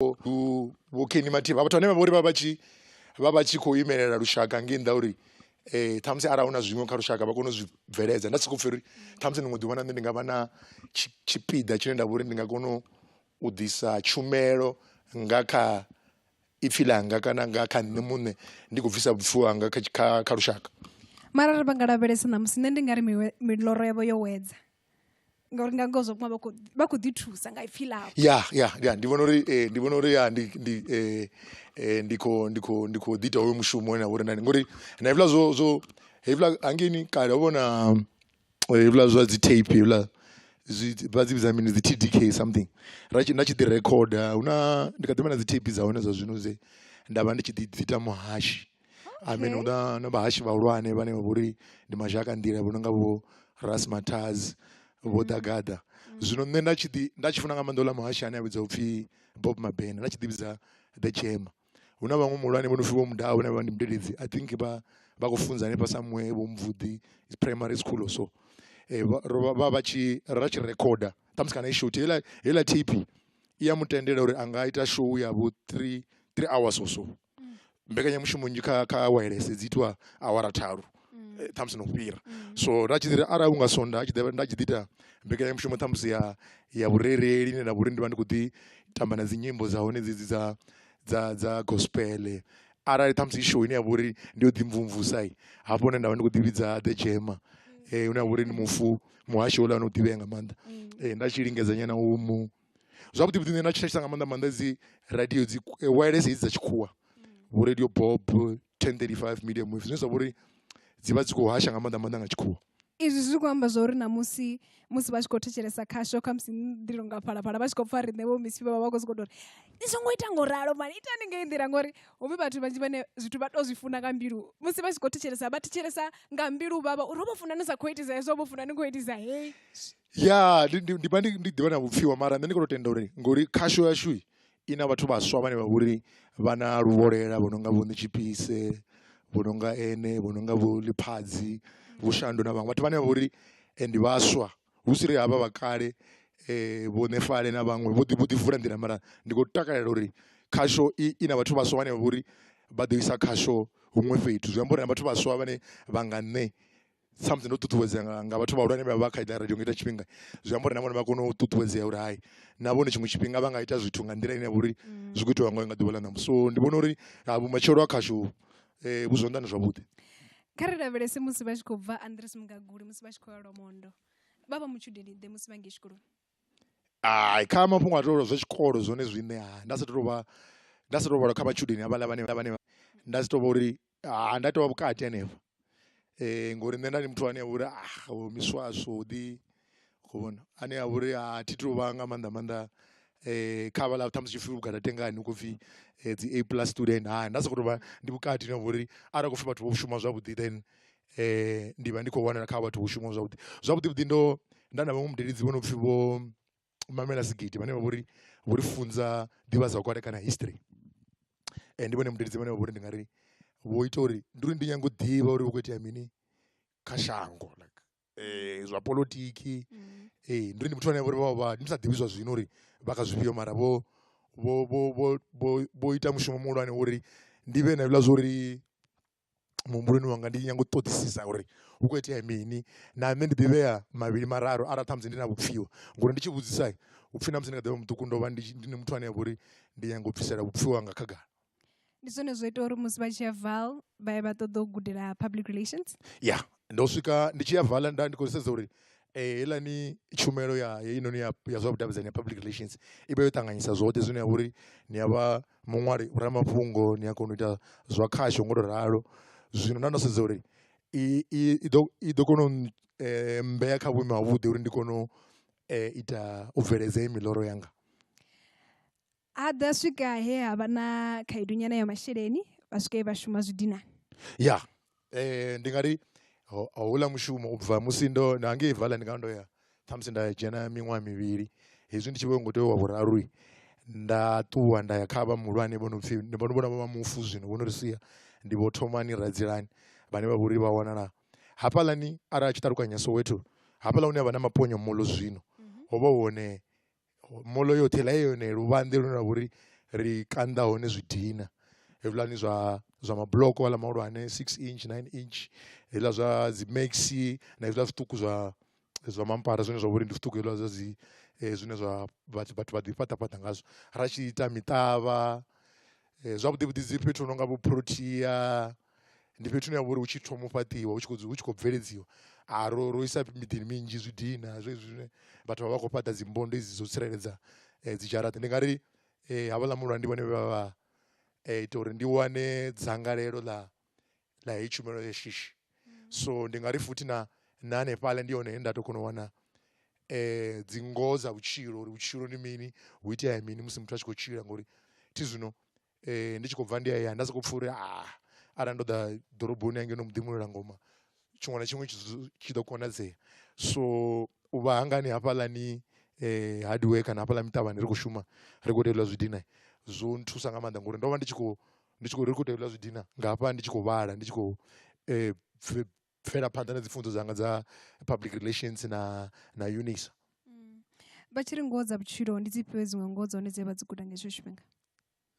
vho Kenny Mativa vhathu vhane vha vha uri vha vha tshi vha vha tshi khou imelela lushaka ngei nnḓa uri um ṱhamusi arali hu na zwiṅwe kha lushaka vha kone u zwi bveledza nda sokou pfhi uri ṱhamusi ḽiṅwe ḓuvha na nṋe ndi nga vha na tshipiḓa tshine nda vha uri ndi nga kona u ḓisa tshumelo nga kha ipfhi ḽanga kana nga kha nṋe muṋe ndi khou bvisa vhupfhiwa hanga kha kha kha lushaka mara ri vha nga lavhelesa ṋamusi nṋe ndi nga ri miloro yavho yo wedza ngauri nga ngoho zwo vhunga vha khou ḓi thusa nga ipfhi ḽavho ya ya ya ndi vhona uri eh, ndi vhona uri ya ndi ndi eh, eh, ndi khou ndi khou ndi khou ḓita hoyo mushumo na vhori nani ngori na hevhila zwo zwo hevhila hangeni kale ho vhona hevhila zwa dzi tape hevhila vha dzi vhidza mini dzi t d k something ra tshi nda tshi ḓi recorda hu na ndi kha ḓivha na dzi tape dza hone zwa zwino dze nda vha ndi tshi ḓi ḓita muhashi I mean hu na na vhahashi vhahulwane vhane vha vhori ndi mashaka nḓila vho no nga vho Ras Mataz vho Dagada zwino nṋe nda tshi ḓi nda tshi funa nga maanḓa uḽa muhashi ane a vhidzwa upfhi Bob Mabena nda tshi ḓi vhidza the Chema hu na vhaṅwe muhulwane vho no pfhi vho Mudau vhane vha ndi mudededzi I think vha vha khou funza hanefha somewhere vho Mvudi is primary school or so eh, vha ro- vha vha tshi ra tshi recorder ṱhamusi kana i short heiḽa heiḽa tape i ya mu tendela uri a nga ita show ya vho three three hours or so mbekanyamushumo nnzhi kha kha awelese dzi itiwa awara tharu ṱhamusi no fhira so nda tshi ḓiri arali hunga swondaha tshi ḓo nda tshi ḓi ita mbekanyamushumo ṱhamusi ya ya vhurereli ine nda vha uri ndi vha ndi khou ḓi tamba na dzi nyimbo dza hone dzedzi dza dza dza gospel arali ṱhamusi show ine ya vha uri ndi yo ḓi mvumvusa hafho hune nda vha ndi khou ḓi vhidza the dzhema hune ha vha uri ndi mufu muhasho houḽa no ḓivhea nga maanḓa nda tshi lingedza nyana u mu. Zwavhuḓi vhuḓi nṋe nda thetshelesa nga maanḓa maanḓa dzi radio dzi wailesi hedzi dza tshikhuwa vho radio bob ten thirty five medium wave zwine zwa vha uri dzi vha dzi khou hasha nga maanḓa maanḓa nga tshikhuwa izwi zwi khou amba zwa uri na musi musi vha tshi khou thetshelesa khasho kha musi ndi longa phalaphala vha tshi khou pfa riṋe vho misi vha vha vha khou sokou tou ri ni songo ita ngo ralo mani itani ngei nḓila ngori hu vhe vhathu vhanzhi vhane zwithu vha tou zwi funa nga mbilu musi vha tshi khou thetshelesa vha thetshelesa nga mbilu vhavha uri ho vho funa ni sa khou itisa hezwo ho vho funa ni khou itisa hei Ya ndi ndi ndi vha ndi ndi ḓivha na vhupfhiwa mara nṋe ndi khou tou tenda uri ngori khasho yashu i na vhathu vhaswa vhane vha vhori vha na luvholela vho no nga vho Netshipise vho no nga ene vho no nga vho Ḽiphadzi vho Shandu na vhaṅwe vhathu vhane vha vhori ndi vhaswa hu si ri havha vha kale vho Nefale na vhaṅwe vho ḓi vho ḓi vula nḓila mara ndi khou takalela uri khasho i na vhathu vhaswa vhane vha vhori vha ḓo isa khasho huṅwe fhethu zwi amba uri na vhathu vhaswa vhane vha nga nṋe. sa musi ndo ṱuṱuwedzea nga nga vhathu vhahulwane vha vha kha ita radio nga ita tshifhinga zwi amba uri na vhone vha kone u ṱuṱuwedzea uri hai na vhone tshiṅwe tshifhinga vha nga ita zwithu nga nḓila ine ya vha uri mm. zwi khou itiwa ngayo nga ḓuvha ḽa ṋamusi so ndi vhona uri ah, vhumatshelo ha khashu um eh, vhu zwanḓani zwavhuḓi kha ri lavhelese musi vha tshi khou bva andres mugaguli musi vha tshi khou ya lwamondo vha vha mutshudeni ḓe musi vha ngei tshikoloni ai kha mafhungo a tolwa zwa tshikolo zwone zwine ha nda sa tou vha nda sa tou vhalwa kha vhatshudeni havhaḽa vhane vhane nda si tou vha uri ha nda tovha vhukati hanefha um ngori nṋe nda ndi muthu ane a vha uri ah o miswaswo ḓi khou vhona ane a vha uri a thi tou vha nga maanḓa maanḓa um kha havhaḽa ṱhamusi tshipfi vhugadatengani hu khou pfhi dzi a plus student hai nda sokou tou vha ndi vhukati hune ha vha uri arali hu khou pfhi vhathu vho shuma zwavhuḓi then ndi vha ndi khou wanala kha vhathu vho shumaho zwavhuḓi zwavhuḓi vhuḓi ndo nda na vhaṅwe mudededzi vho no pfhi vho u mamela sigidi vhane vha vha uri vho ri funza ḓivhazwakale kana history and ndi vhone mudededzi vhane vha vha uri ndi nga ri vho ita uri ndi uri ndi nyanga u ḓivha uri hu khou itea mini kha shango like um zwa polotiki mm. ee ndi uri ndi muthu ane vha vha ndi sa ḓivhi zwa zwino uri vha kha zwifhio mara vho vho vho vho vho ita mushumo muhulwane uri ndi vhe na hezwiḽa zwa uri muhumbuloni wanga ndi nyanga u ṱoḓisisa uri hu kho itea mini na nṋe ndi ḓivhea mavhili mararu arali ṱhamusi ndi na vhupfiwa ngori ndi tshi vhudzisa hupfi na musi ndi kha ḓivha muṱuku ndo vha ndi ndi muthu ane avha uri ndi nyanga u bvisela vhupfiwa hanga khagala. Ndi zwone zwo ita uri musi vha tshi ya val vha ye vha ṱoḓa u gudela public relations ya Ndo swika ndi tshi ya vala nda ndi khou sedza uri heiḽani tshumelo ya heinoni ya ya zwa vhudavhidzani ya public relations i vha yo ṱanganyisa zwoṱhe zwine ha vha uri ni ya vha muṅwali ramafhungo ni a kona u ita zwa khasho ngo tou ralo, zwino nda ndo sedza uri i i ḓo i ḓo kona u mmbea kha vhuimo ha vhuḓi uri ndi kone u ita u bveledza heyi miḽoro yanga. ha ḓa swika he ha vha na khaedu nyana ya masheleni vha swika vha shuma zwi dina ya eh ndi nga ri houḽa mushumo u bva musi ndo na ngei vala ndi nga ndo ya ṱhamusi nda dzhena miṅwaha mivhili hezwi ndi tshi vho ngo tea wa vhuraru nda ṱuwa nda ya kha vha muhulwane vho no pfhi ndi vhona vhona vha mufu zwino vho no ri sia ndi vho thomani radzilani vhane vha vhori vha wanala hafhaḽani arali a tshi ṱalukanya soweto hafhaḽa hune ha vha na maponyo molo zwino ho vha hone Molo yoṱhe heiḽa i yone luvhanḓe lune lwa vha uri ri kanda hone zwi dina hezwiḽani zwa zwa mabuḽoko aḽa mahulwane six inch, nine inch hezwiḽa zwa dzi maxi na hezwiḽa zwiṱuku zwa zwa mampara zwine zwa vha uri ndi zwiṱuku hezwiḽa zwa dzi zwine zwa vhathu vhathu vha ḓi fhaṱa fhaṱa ngazwo ra tshi ita miṱavha zwavhuḓi vhuḓi dzi fhethu hu nonga vho Protea. ndi fhethu hune ha vha uri hu tshi thoma u fhaṱiwa hu tshi khou hu tshi khou bveledziwa a ro ro isa miḓini minzhi zwi dina zwezwi zwine vhathu vha vha khou fhaṱa dzimbondo hedzi dzo tsireledza dzi dzharaṱa ndi nga ri havhaḽa muhulwane ndi vhone vha vha ita uri ndi wane dzangalelo ḽa ḽa heyi tshumelo ya shishi so ndi nga ri futhi na na hanefhaḽa ndi hone he nda to kona u wana dzi ngoho dza vhutshilo uri vhutshilo ndi mini hu itea mini musi muthu a tshi khou tshila ngori thi zwino ndi tshi khou bva ndi hayani nda sokou pfha uri arali ndo ḓa ḓoroboni hangeno muḓi muṋwaleli ngoma tshiṅwe na tshiṅwe tshi ḓo konadzea so u vha hanga ni hafhaḽani hadiwee kana hafhaḽa miṱavhani ri khou shuma ri khou tevhela zwi dina zwo nthusa nga maanḓa ngori ndo vha ndi tshi khou ndi tshi khou ri khou tevhela zwi dina nga hafha ndi tshi khou vhala ndi tshi khou bvela phanḓa na dzi pfunzo dzanga dza public relations na na unisa mm. vha tshi ri ngoho dza vhutshilo ndi dzi fhiwe dziṅwe ngoho dza hone dze vha dzi guda nga hetsho tshifhinga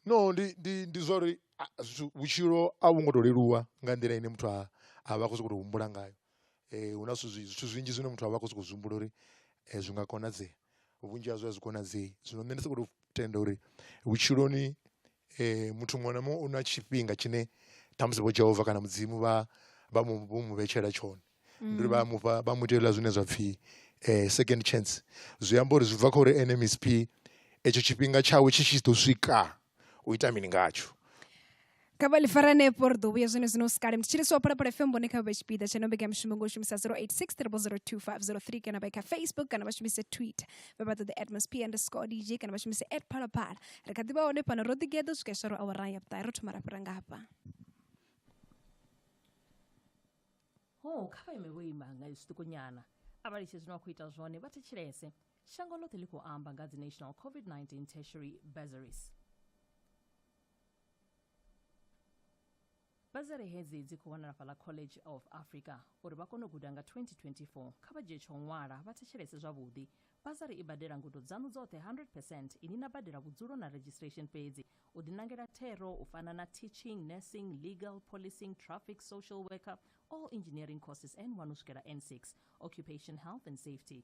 no ndi ndi ndi zwa uri vhutshilo a vhu ngo to leluwa nga nḓila ine muthu a a vha khou sokou tou humbula ngayo um hu na zwithu zwithu zwinzhi zwine muthu a vha khou sokou zwi humbula uri um zwi nga konadzea vhunzhi hazwo a zwi konadzei zwino nṋe ndi sokou tou tenda uri vhutshiloni Muthu muṅwe na muṅwe u na tshifhinga tshine ṱhamusi vho Jehova kana Mudzimu vha vha mu vho mu vhetshela tshone ndi uri vha a mufha vha mu itela zwine zwa pfhi second chance, zwi amba uri zwi bva kha uri ene msp etsho tshifhinga tshawe tshi tshi ḓo swika u ita mini ngatsho. Kha vha ḽi fare hanefho ri ḓo vhuya zwone zwino hu si kale mutshili si wa phalaphala fm vhone kha vha vhe tshipiḓa tsha no mbekanyamushumo ngo shumisa 086 3002503 kana vha kha facebook kana vha shumise twitter vha vha ṱoḓe atmosphere underscore dj kana vha shumise at phalaphala ri kha ḓivha hone fhano ro ḓigeḓa swika iswa ro awara ya vhuṱahe ro thoma ra fhira nga hafha ho kha vha ime vho ima nga zwiṱukonyana a vha litshe zwine wa khou ita zwone vha thetshelese shango ḽoṱhe ḽi khou amba nga dzi national covid-19 tertiary bursaries Bazari hedzi dzi khou wanala fhaḽa College of Africa. Uri vha kone u guda nga 2024, kha vha dzhie tsho ṅwala vha thetshelese zwavhuḓi. Bazari i badela ngudo dzaṋu dzoṱhe 100 percent, inwi na badela vhudzulo na registration fhedzi. U ḓiṋangela thero u fana na Teaching, Nursing, Legal, Policing, Traffic, Social Worker, all Engineering courses N1 u swikela N6, Occupation Health and Safety,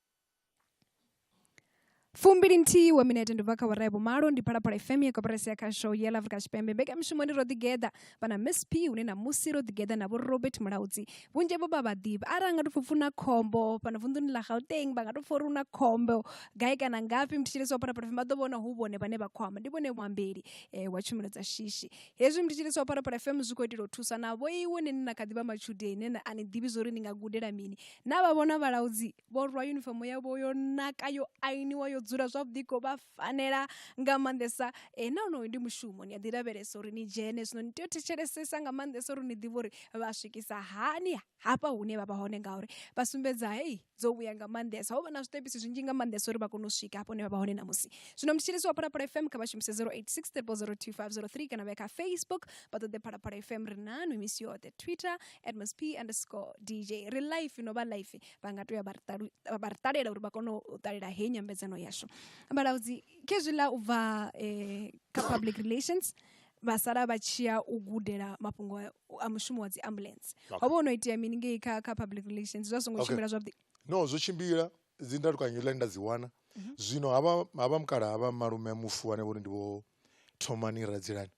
fumbili nthihi wa minete ndi bva kha wara ya vhumalo ndi phalaphala fm ya koporasi ya khasho ya afrika tshipembe mbekanyamushumoni ro ḓigeḓa vhana miss p hune na musi ro ḓigeḓa na vho robert mulaudzi vhunzhi vho vha vhaḓivhi ara a nga tou pfupfu na khombo fhano vunḓuni ḽa gauteng vha nga tou pfha uri hu na khombo gai kana ngafhi mthetshelesi wa phalaphala fm vha ḓo vhona hu vhone vhane vha khou amba ndi vhone muambeli eh, wa tshumelo dza shishi hezwi mthetshelesi wa phalaphala fm zwi khou itela u thusa na vho iwe nene na kha ḓivha matshudeni nene a ni ḓivhi zwa uri ni nga gudela mini na vha vhona vhalaudzi vho rwa yunifomo yavho yo naka yo ainiwa yo dzula zwavhuḓi khou vha fanela nga maanḓesa e na onoyo ndi mushumo ni a ḓi lavhelesa uri ni dzhene zwino ni tea u thetshelesesa nga maanḓesa uri ni ḓivhe uri vha swikisa hani hafha hune vha vha hone ngauri vha sumbedza hei dzo vhuya nga maanḓesa ho vha na zwiṱepisi zwinzhi nga maanḓesa uri vha kone u swika hafho hune vha vha hone ṋamusi zwino mutshilisi wa phalaphala fm kha vha shumise 086 kana vha ya kha facebook vha ṱoḓe phalaphala fm ri nanu misi yoṱhe twitter msp underscore dj ri life no vha life vha nga toya vha ri ṱalela uri vha kone u ṱalela heyi nyambedzano yashu vhalaudzi khezwiḽa u bva um kha public relations vha sala vha tshiya u gudela mafhungo a mushumo wa dzi ambulance ho vha ho no itea mini ngei kha kha public relations zwa songo tshimbila zwavhuḓi no zwo tshimbila dzi ndalukanyo ḽa nda dzi wana mhm. zwino havha havha mukala havha malume mufu ane vhori ndi vho thomani radzilani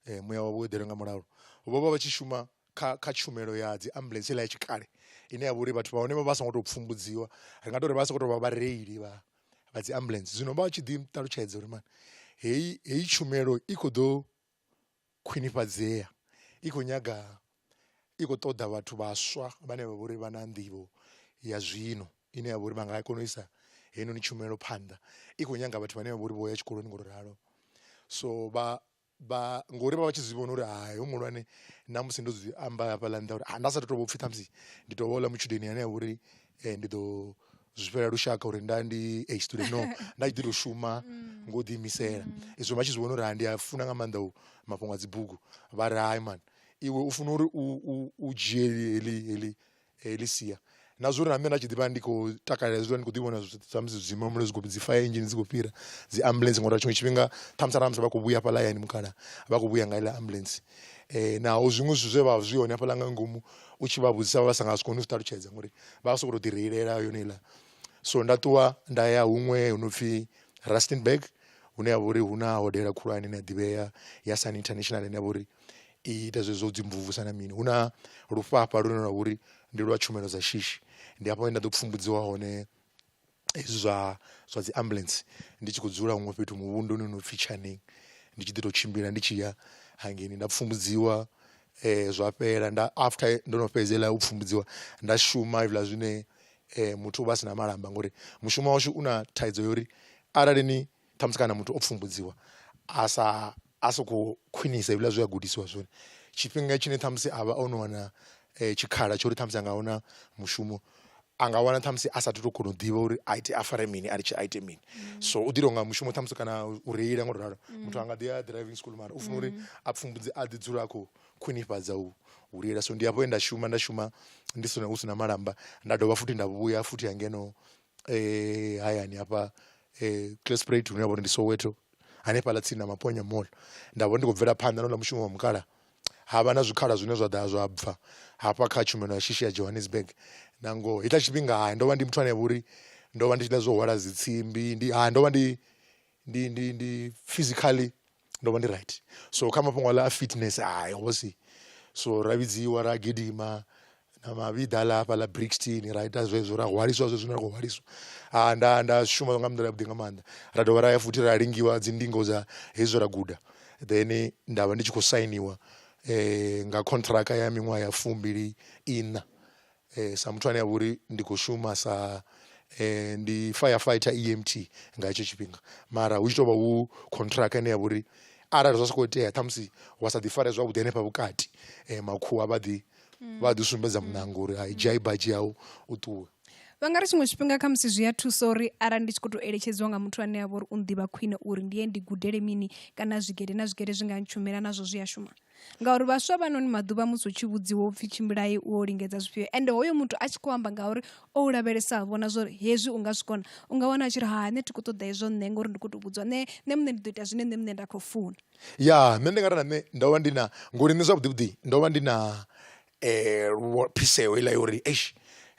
um muya wavho wo eḓelwe nga mulalo vho vha vha tshi shuma kha kha tshumelo ya dzi ambuḽentse heiḽa ya tshikale ine ya vha uri vhathu vha hone vha vha songo to pfumbudziwa ri nga tori vha sokou tou vha vhareili vha vha dzi ambuḽentse. Zwino vha tshi ḓi ṱalutshedza uri mani heyi heyi tshumelo i kho ḓo khwinifhadzea i khou nyaga i khou ṱoḓa vhathu vhaswa vhane vha vhori vha na nḓivho ya zwino ine ya vha uri vha nga kona u isa heinoni tshumelo phanḓa, i khou nyanga vhathu vhane vha vhori vho ya tshikoloni ngo to ralo so vha vha ngori vha vha tshi zwi vhona uri hai hu muhulwane na musi ndo zwi amba hafhaḽa nnḓa uri nda sa tu to vhopfhi ṱhamusi ndi to vha houḽa matshudeni ane avha uri ndi ḓo zwi fhela lushaka uri nda ndi a student no nda tshi ḓi to shuma ngo ḓi imisela izwo vha tshi zwi vhona uri hai ndi a funa nga maanḓa u mafhungo a dzibugu vhari hai mani iwe u funa uri u dzhie heḽi heḽi Elisia na zwori na nṋe nda tshi ḓivha ndi khou takalela hezwi ndi khou ḓi vhona samusi zwidzima mulilo zwi khou dzi fire engine dzi khou fhira dzi ambulance ngori tshiṅwe tshifhinga ṱhamusi arali musi vha khou vhuya hafhaḽa hayani mukhala vha khou vhuya nga iḽa ambulance naho zwiṅwe zwithu zwe vha zwi hone hafhaḽa nga ngomu u tshi vha vhudzisa vha sa nga si kone u zwi ṱalutshedza ngori vha soko to ḓi reilela yone iḽa so nda ṱuwa nda ya huṅwe hu no pfhi Rustenburg hune ha vha uri hu na hodela khulwane ine ya ḓivhea ya Sun International ine ya vha uri i ita zwezwo u dzi mvumvusa na mini, hu na lufhafha lune lwavha uri ndi lwa tshumelo dza shishi ndi hafho he nda ḓo pfhumbudziwa hone hezwi zwa zwa dzi ambulance ndi tshi khou dzula huṅwe fhethu muvhunduni une upfhi Tshaning ndi tshi ḓi to tshimbila ndi tshi ya hangeini nda pfhumbudziwa zwa fhela nda after ndo no fhedza heiḽa u pfhumbudziwa nda shuma hezwiḽa zwine muthu uvha a sina malamba ngori mushumo washu u na thaidzo ya uri arali ni Ṱhamusi kana muthu o pfumbudziwa a sa a so kho khwinisa hezwiḽa zwe a gudisiwa zwone, tshifhinga tshine ṱhamusi avha ono wana tshikhala tsho uri ṱhamusi anga wana mushumo anga wana ṱhamusi a sathu to kona u ḓivha uri a ite a fare mini a litshe a ite mini. So u ḓi tonga mushumo ṱhamusi kana u reila ngo to ralo muthu anga ḓi ya driving school mara u funa uri a pfhumbudze a ḓi dzula a khou khwinifhadza u u reila, so ndi hafho he nda shuma nda shuma ndi sina hu sina malamba nda dovha futhi nda vhuya futhi ha ngeno hayani hafha Klipspruit hune ha vha uri ndi Soweto hanefhaḽa tsini na Maponya mall nda vha ndi khou bvela phanḓa na houḽa mushumo wa mukalaha ha vha na zwikhala zwine zwa ḓa zwa bva hafha kha tshumelo ya shishi ya Johannesburg. Na ngoho hetshiḽa tshifhinga ndo vha ndi muthu ane a vha uri ndo vha ndi tshi ḽa zwo hwala dzi tsimbi ndi ndo vha ndi ndi ndi ndi physically ndo vha ndi right so kha mafhungo aḽa a fitness hai ho si so ra vhidziwa ra gidima na mavhiḓa aḽa hafha ḽa brixton ra ita zwezwo ra hwaliswa zwezwo zwine ra khou hwaliswa ha nda nda shuma nga nḓila yavhuḓi nga maanḓa ra dovha ra ya futhi ra lingiwa dzi ndingo dza hezwi ra guda then nda vha ndi tshi khou sainiwa nga contract ya miṅwaha ya fumbili iṋa sa muthu ane avha uri ndi kho shuma sa ndi fire fighter E_M_T nga hetsho tshifhinga mara hu tshi tovha hu contract ine yavha uri arali zwa sokou itea ṱhamusi wa sa ḓi farea zwavhuḓi hanefha vhukati makhuwa vha ḓi vha ḓi sumbedza muṋango uri hai dzhia i badzhi yau u ṱuwe. Vha nga ri tshiṅwe tshifhinga kha musi zwi a thusa uri arali ndi tshi kho to eletshedziwa nga muthu ane avha uri u nḓivha khwine uri ndi ye ndi gudele mini kana zwigede na zwigede zwi nga ntshumela nazwo zwi a shuma. ngauri vhaswa vha noni maḓuvha musi u tshi vhudziwa u pfhi tshimbilai u o lingedza zwifhio ende hoyo muthu a tshi khou amba ngauri o u lavhelesa vhona zwori hezwi u nga zwi kona u nga wana a tshi ri ha nṋe thi khou ṱoḓa hezwo nṋe ngori ndi khou tou vhudziwa nṋe nṋe muṋe ndi ḓo ita zwine nṋe muṋe nda khou funa ya nṋe ndi nga ri na nṋe ndo vha ndi na ngori nṋe zwavhuḓi vhuḓi ndo vha ndi na um phiseho heiḽa ya uri eish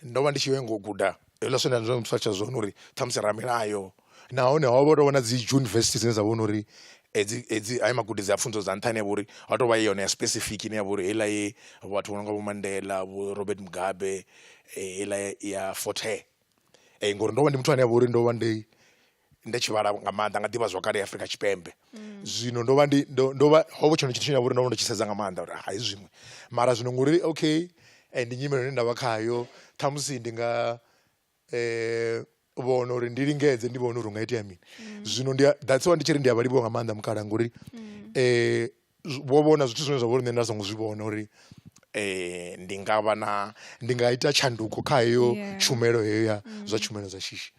ndo vha ndi tshi yo nyanga u guda Hezwiḽa zwine nda mu sumbedza zwone uri ṱhamusi ramilayo nahone ho vha hu tou vha na dzi yunivesithi dzine dza vha uri hedzi hedzi haya magudedzi a pfhunzo dza nṱha ane a vha uri ho tou vha i yone ya specific ine ya vha uri heiḽa ye vhathu vho no nga vho Mandela, vho Robert Mugabe heiḽa ya Fort Hare ngori ndo vha ndi muthu ane a vha uri ndo vha ndi nda tshi vhala nga maanḓa nga ḓivha zwakale ya Afrika Tshipembe zwino ndo vha ndi ndo ndo vha ho vha tshone tshithu tshine nda vhori ndo vha ndo tshi sedza nga maanḓa uri hai zwiṅwe mara zwino ngori okay ndi nyimele ine ndavha khayo ṱhamusi ndi nga vhona uri ndi lingedze ndi vhone uri hu nga itea mini zwino ndi that's why ndi tshi ri ndi a vha livhuwa nga maanḓa mukalaha ngori . vho vhona zwithu zwine zwa vha uri nṋe nda songo zwi vhona uri ndi nga vha na ndi nga ita tshanduko kha heyo tshumelo heyo ya zwa tshumelo dza shishi.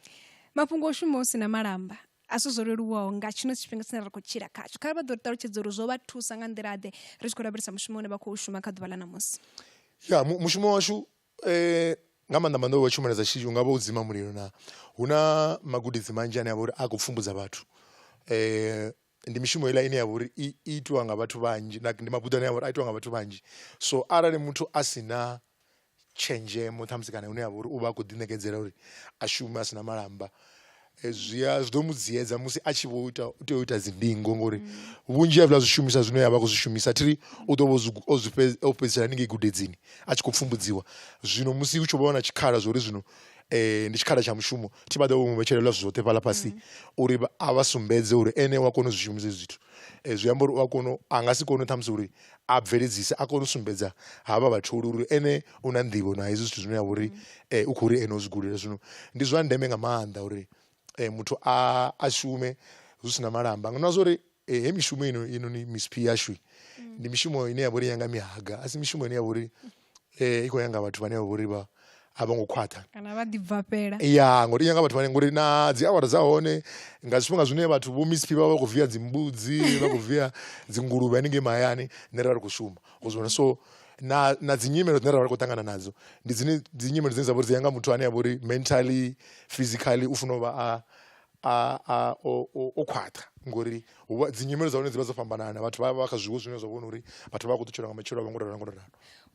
Mafhungo o shuma hu si na malamba a si zwo leluwaho nga tshino tshifhinga tshine ra khou tshila khatsho kha vha ḓo ri ṱalutshedza uri zwo vha thusa nga nḓila ḓe ri tshi khou lavhelesa mushumo une vha khou shuma kha ḓuvha ḽa ṋamusi. Ya mushumo washu nga maanḓa maanḓa wa tshumelo dza shishi hungavha u dzima mulilo na hu na magudedzi manzhi ane avha uri a kho pfhumbudza vhathu ndi mishumo heiḽa ine ya vha uri i itiwa nga vhathu vhanzhi na ndi mabuḓo ane a vha uri a itiwa nga vhathu vhanzhi so arali muthu a si na tshenzhemo ṱhamusi kana hune ha vha uri u vha a khou ḓi ṋekedzela uri a shume a si na malamba zwi a zwi ḓo mu dziyedza musi a tshi vho ita u tea u ita dzi ndingo ngori vhunzhi ha zwiḽa zwishumiswa zwine avha a khou zwi shumisa thiri u ḓo vha o zwi fhedzisela haningei gudedzini a tshi khou pfhumbudziwa zwino musi hu tshi vho vha na tshikhala zwa uri zwino um ndi tshikhala tsha mushumo thi vha ḓe vho mu vhetshelelwa zwithu zwoṱhe fhaḽa fhasi uri a vha sumbedze uri ene u a kona u zwi shumisa hezwi zwithu zwi amba uri u a kona a nga si kone ṱhamusi uri a bveledzisa a kone u sumbedza havha vhatholi uri ene u na nḓivho na hezwi zwithu zwine ha vha uri u khou ri ene u zwi guda zwino ndi zwa ndeme nga maanḓa uri muthu a shume zwi si na malamba na zwa uri E, he mishumo ino ino ni misiphi yashu mm. ndi mishumo ine ya vhori yanga mihaga a si mishumo ine ya vhori eh i khou yanga vhathu vhane vha vhori vha a vho ngo khwaṱha kana vha ḓibvafhela ya ngori yanga vhathu vhane ngori na dzi awara dza hone nga zwifhinga zwine vhathu vho misiphi vha vha khou via dzimbudzi vha khou via dzinguluvhe haningei mahayani nṋe ra ri khou shuma u zwivhona so na na dzi nyimelo dzine ra vha ri khou ṱangana nadzo ndi dzine dzi nyimelo dzine dza vhori dzi yanga muthu ane a vhori mentally physically u funa u vha a a a o o- o khwaṱha ngori hu vha- dzi nyimelo dza hone dzi vha dzo fhambanana vhathu vha vha kha zwiwo zwine zwa vhona uri vhathu vha khou ṱutshela nga matshilo avho ngo ralo ngo ralo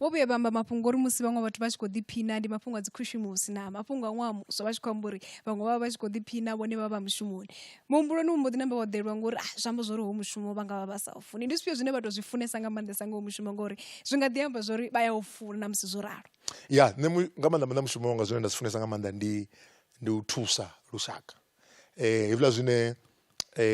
vho vhuya vha amba mafhungo uri musi vhaṅwe vhathu vha tshi khou ḓiphina ndi mafhungo a dzi khushumusi na mafhungo a ṅwaha muswa vha tshi khou amba uri vhaṅwe vha vha vha tshi khou ḓiphina vhone vha vha mushumoni muhumbuloni mu mbo ḓi namba wa ḓelwa ngori ah, zwi amba zwori ho mushumo vha nga vha vha sa u funi ndi zwifhio zwine vha tou zwi funesa nga maanḓesa nga ho mushumo ngori zwi nga ḓi amba zwori vha ya u funa na musi zwo ralo ya nṋe mu- nga maanḓa maanḓa mushumo wanga zwine nda zwi funesa nga maanḓa ndi ndi u thusa lushaka hezwiḽa zwine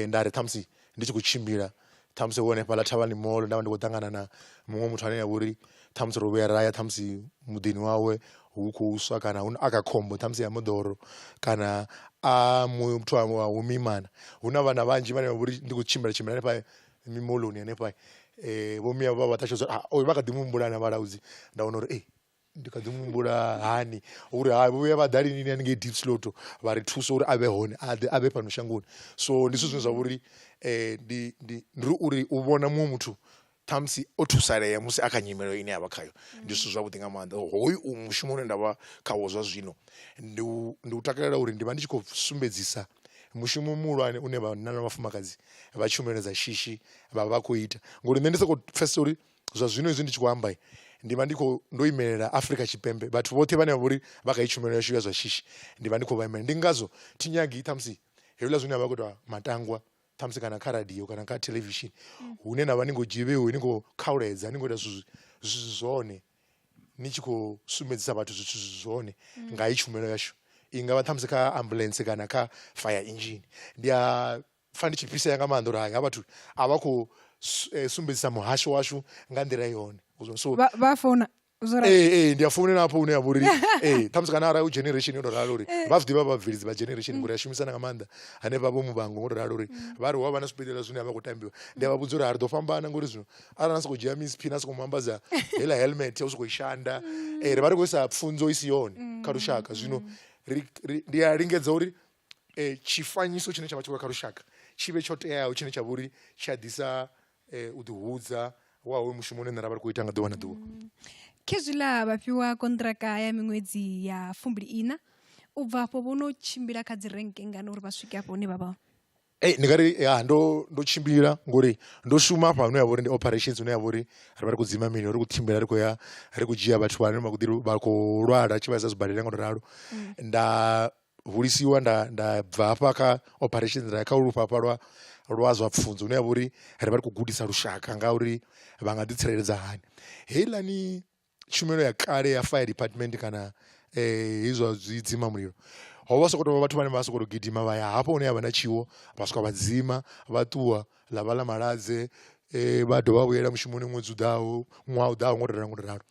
nda ri ṱhamusi ndi tshi khou tshimbila ṱhamusi wo hanefhaḽa thavhani mall nda vha ndi khou ṱangana na muṅwe muthu ane avha uri ṱhamusi ro vhuya ra ya ṱhamusi muḓini wawe hu khou swa kana hu a kha khombo ṱhamusi ya moḓoro kana a muthu a wa u mimana hu na vhana vhanzhi vhane vha vha uri ndi khou tshimbila tshimbila hanefha mimoḽoni hanefha vho miau vha vha ṱalutshedza uri oyu vha kha ḓi muhumbula na vhalaudzi nda wana uri ee ndi kha ḓi muhumbula hani uri ha vhuya vha ḓa lini haningei deep slot vha ri thusa uri a vhe hone a ḓe a vhe fhano shangoni so ndi zwithu zwine zwa vha uri ndi ndi ndi ri uri u vhona muṅwe muthu ṱhamusi o thusalea musi a kha nyimele ine yavha khayo ndi zwithu zwavhuḓi nga maanḓa hoyu u mushumo une ndavha khawo zwa zwino ndi u ndi u takalela uri ndi vha ndi tshi khou sumbedzisa mushumo muhulwane une vhanna na vhafumakadzi vha tshumelo dza shishi vha vha khou ita ngori nṋe ndi soko pfhesesa uri zwa zwino hezwi ndi tshi khou amba ndi vha ndi kho ndo imelela Afrika Tshipembe vhathu vhoṱhe vhane vha vhori vha kha heyi tshumelo yashu ya zwa shishi ndi vha ndi khou vha imela ndi ngazwo thi nyagi ṱhamusi hezwiḽa zwine a vha khou itiwa matangwa ṱhamusi kana kha radio kana kha theḽevishini mm. hune na vha ni ngo dzhivhiwe ni khou khauledza ni khou ita zwithu zwi zwone ni tshi khou sumbedzisa vhathu zwithu zwi zwone mm. nga heyi tshumelo yashu i nga vha ṱhamusi kha ambulance kana kha fire engine ndi a pfa ndi tshi fhisea nga maanḓa uri hai ha vhathu a vha khou eh, sumbedzisa muhasho washu nga nḓila yone so vha founa ee eh, eh, ndi a founela hafho hune ya vha uri ee ṱhamusi kana arali u generation yo to ralo uri vha zwi ḓivha vhabveledzi vha generation ngori a shumisana nga maanḓa hanefha vho muvhango ngo to ralo uri mm. vha ri hu a vha na zwibadela zwine a vha khou tambiwa ndi a vha vhudza uri a ri ḓo fhambana ngori zwino arali na sokou dzhia miss pin a sokou mu ambadza heiḽa helmet ya u sokou i shanda mm. ee ri vha ri khou isa pfunzo i si yone kha lushaka mm. zwino ndi a lingedza uri tshifanyiso tshine tsha vha tshi khou ya kha lushaka tshi vhe tsho teaho tshine tsha vha uri tshi a ḓisa u ḓi hudza wa hoyo mushumo une nṋe ra vha ri khou ita nga ḓuvha na ḓuvha khezwiḽa vha fhiwa konṱiraka ya miṅwedzi ya fumbili ina u bva afho vho no tshimbila kha dzi renke ngana uri vha swike afho hune vha vha Ee, ndi nga ri ya ndo ndo tshimbila ngori ndo shuma hafha hune ya vha uri ndi operations hune ya vha uri ri vha ri khou dzima mililo ri khou tshimbila ri khou ya ri khou dzhia vhathu vhane vha khou ḓi vha khou lwala tshi vhaisa zwibadela nga u to ralo nda hulisiwa nda nda bva hafha kha operation nda ya kha lufhafha hafha lwa lwa zwa pfhunzo hune ha vha uri rivha ri khou gudisa lushaka nga uri vha nga ḓi tsireledza hani. Heiḽani tshumelo ya kale ya fire department kana hezwi zwa zwi dzima mulilo hovha hu sokou tovha vhathu vhane vha sokou gidima vha ya hafho hune havha na tshiwo vha swika vha dzima vha ṱuwa ḽa vha ḽa maladze vha dovha vha vhuyela mushumoni ṅwedzi u ḓaho ṅwaha u ḓaho ngo to ralo ngo to ralo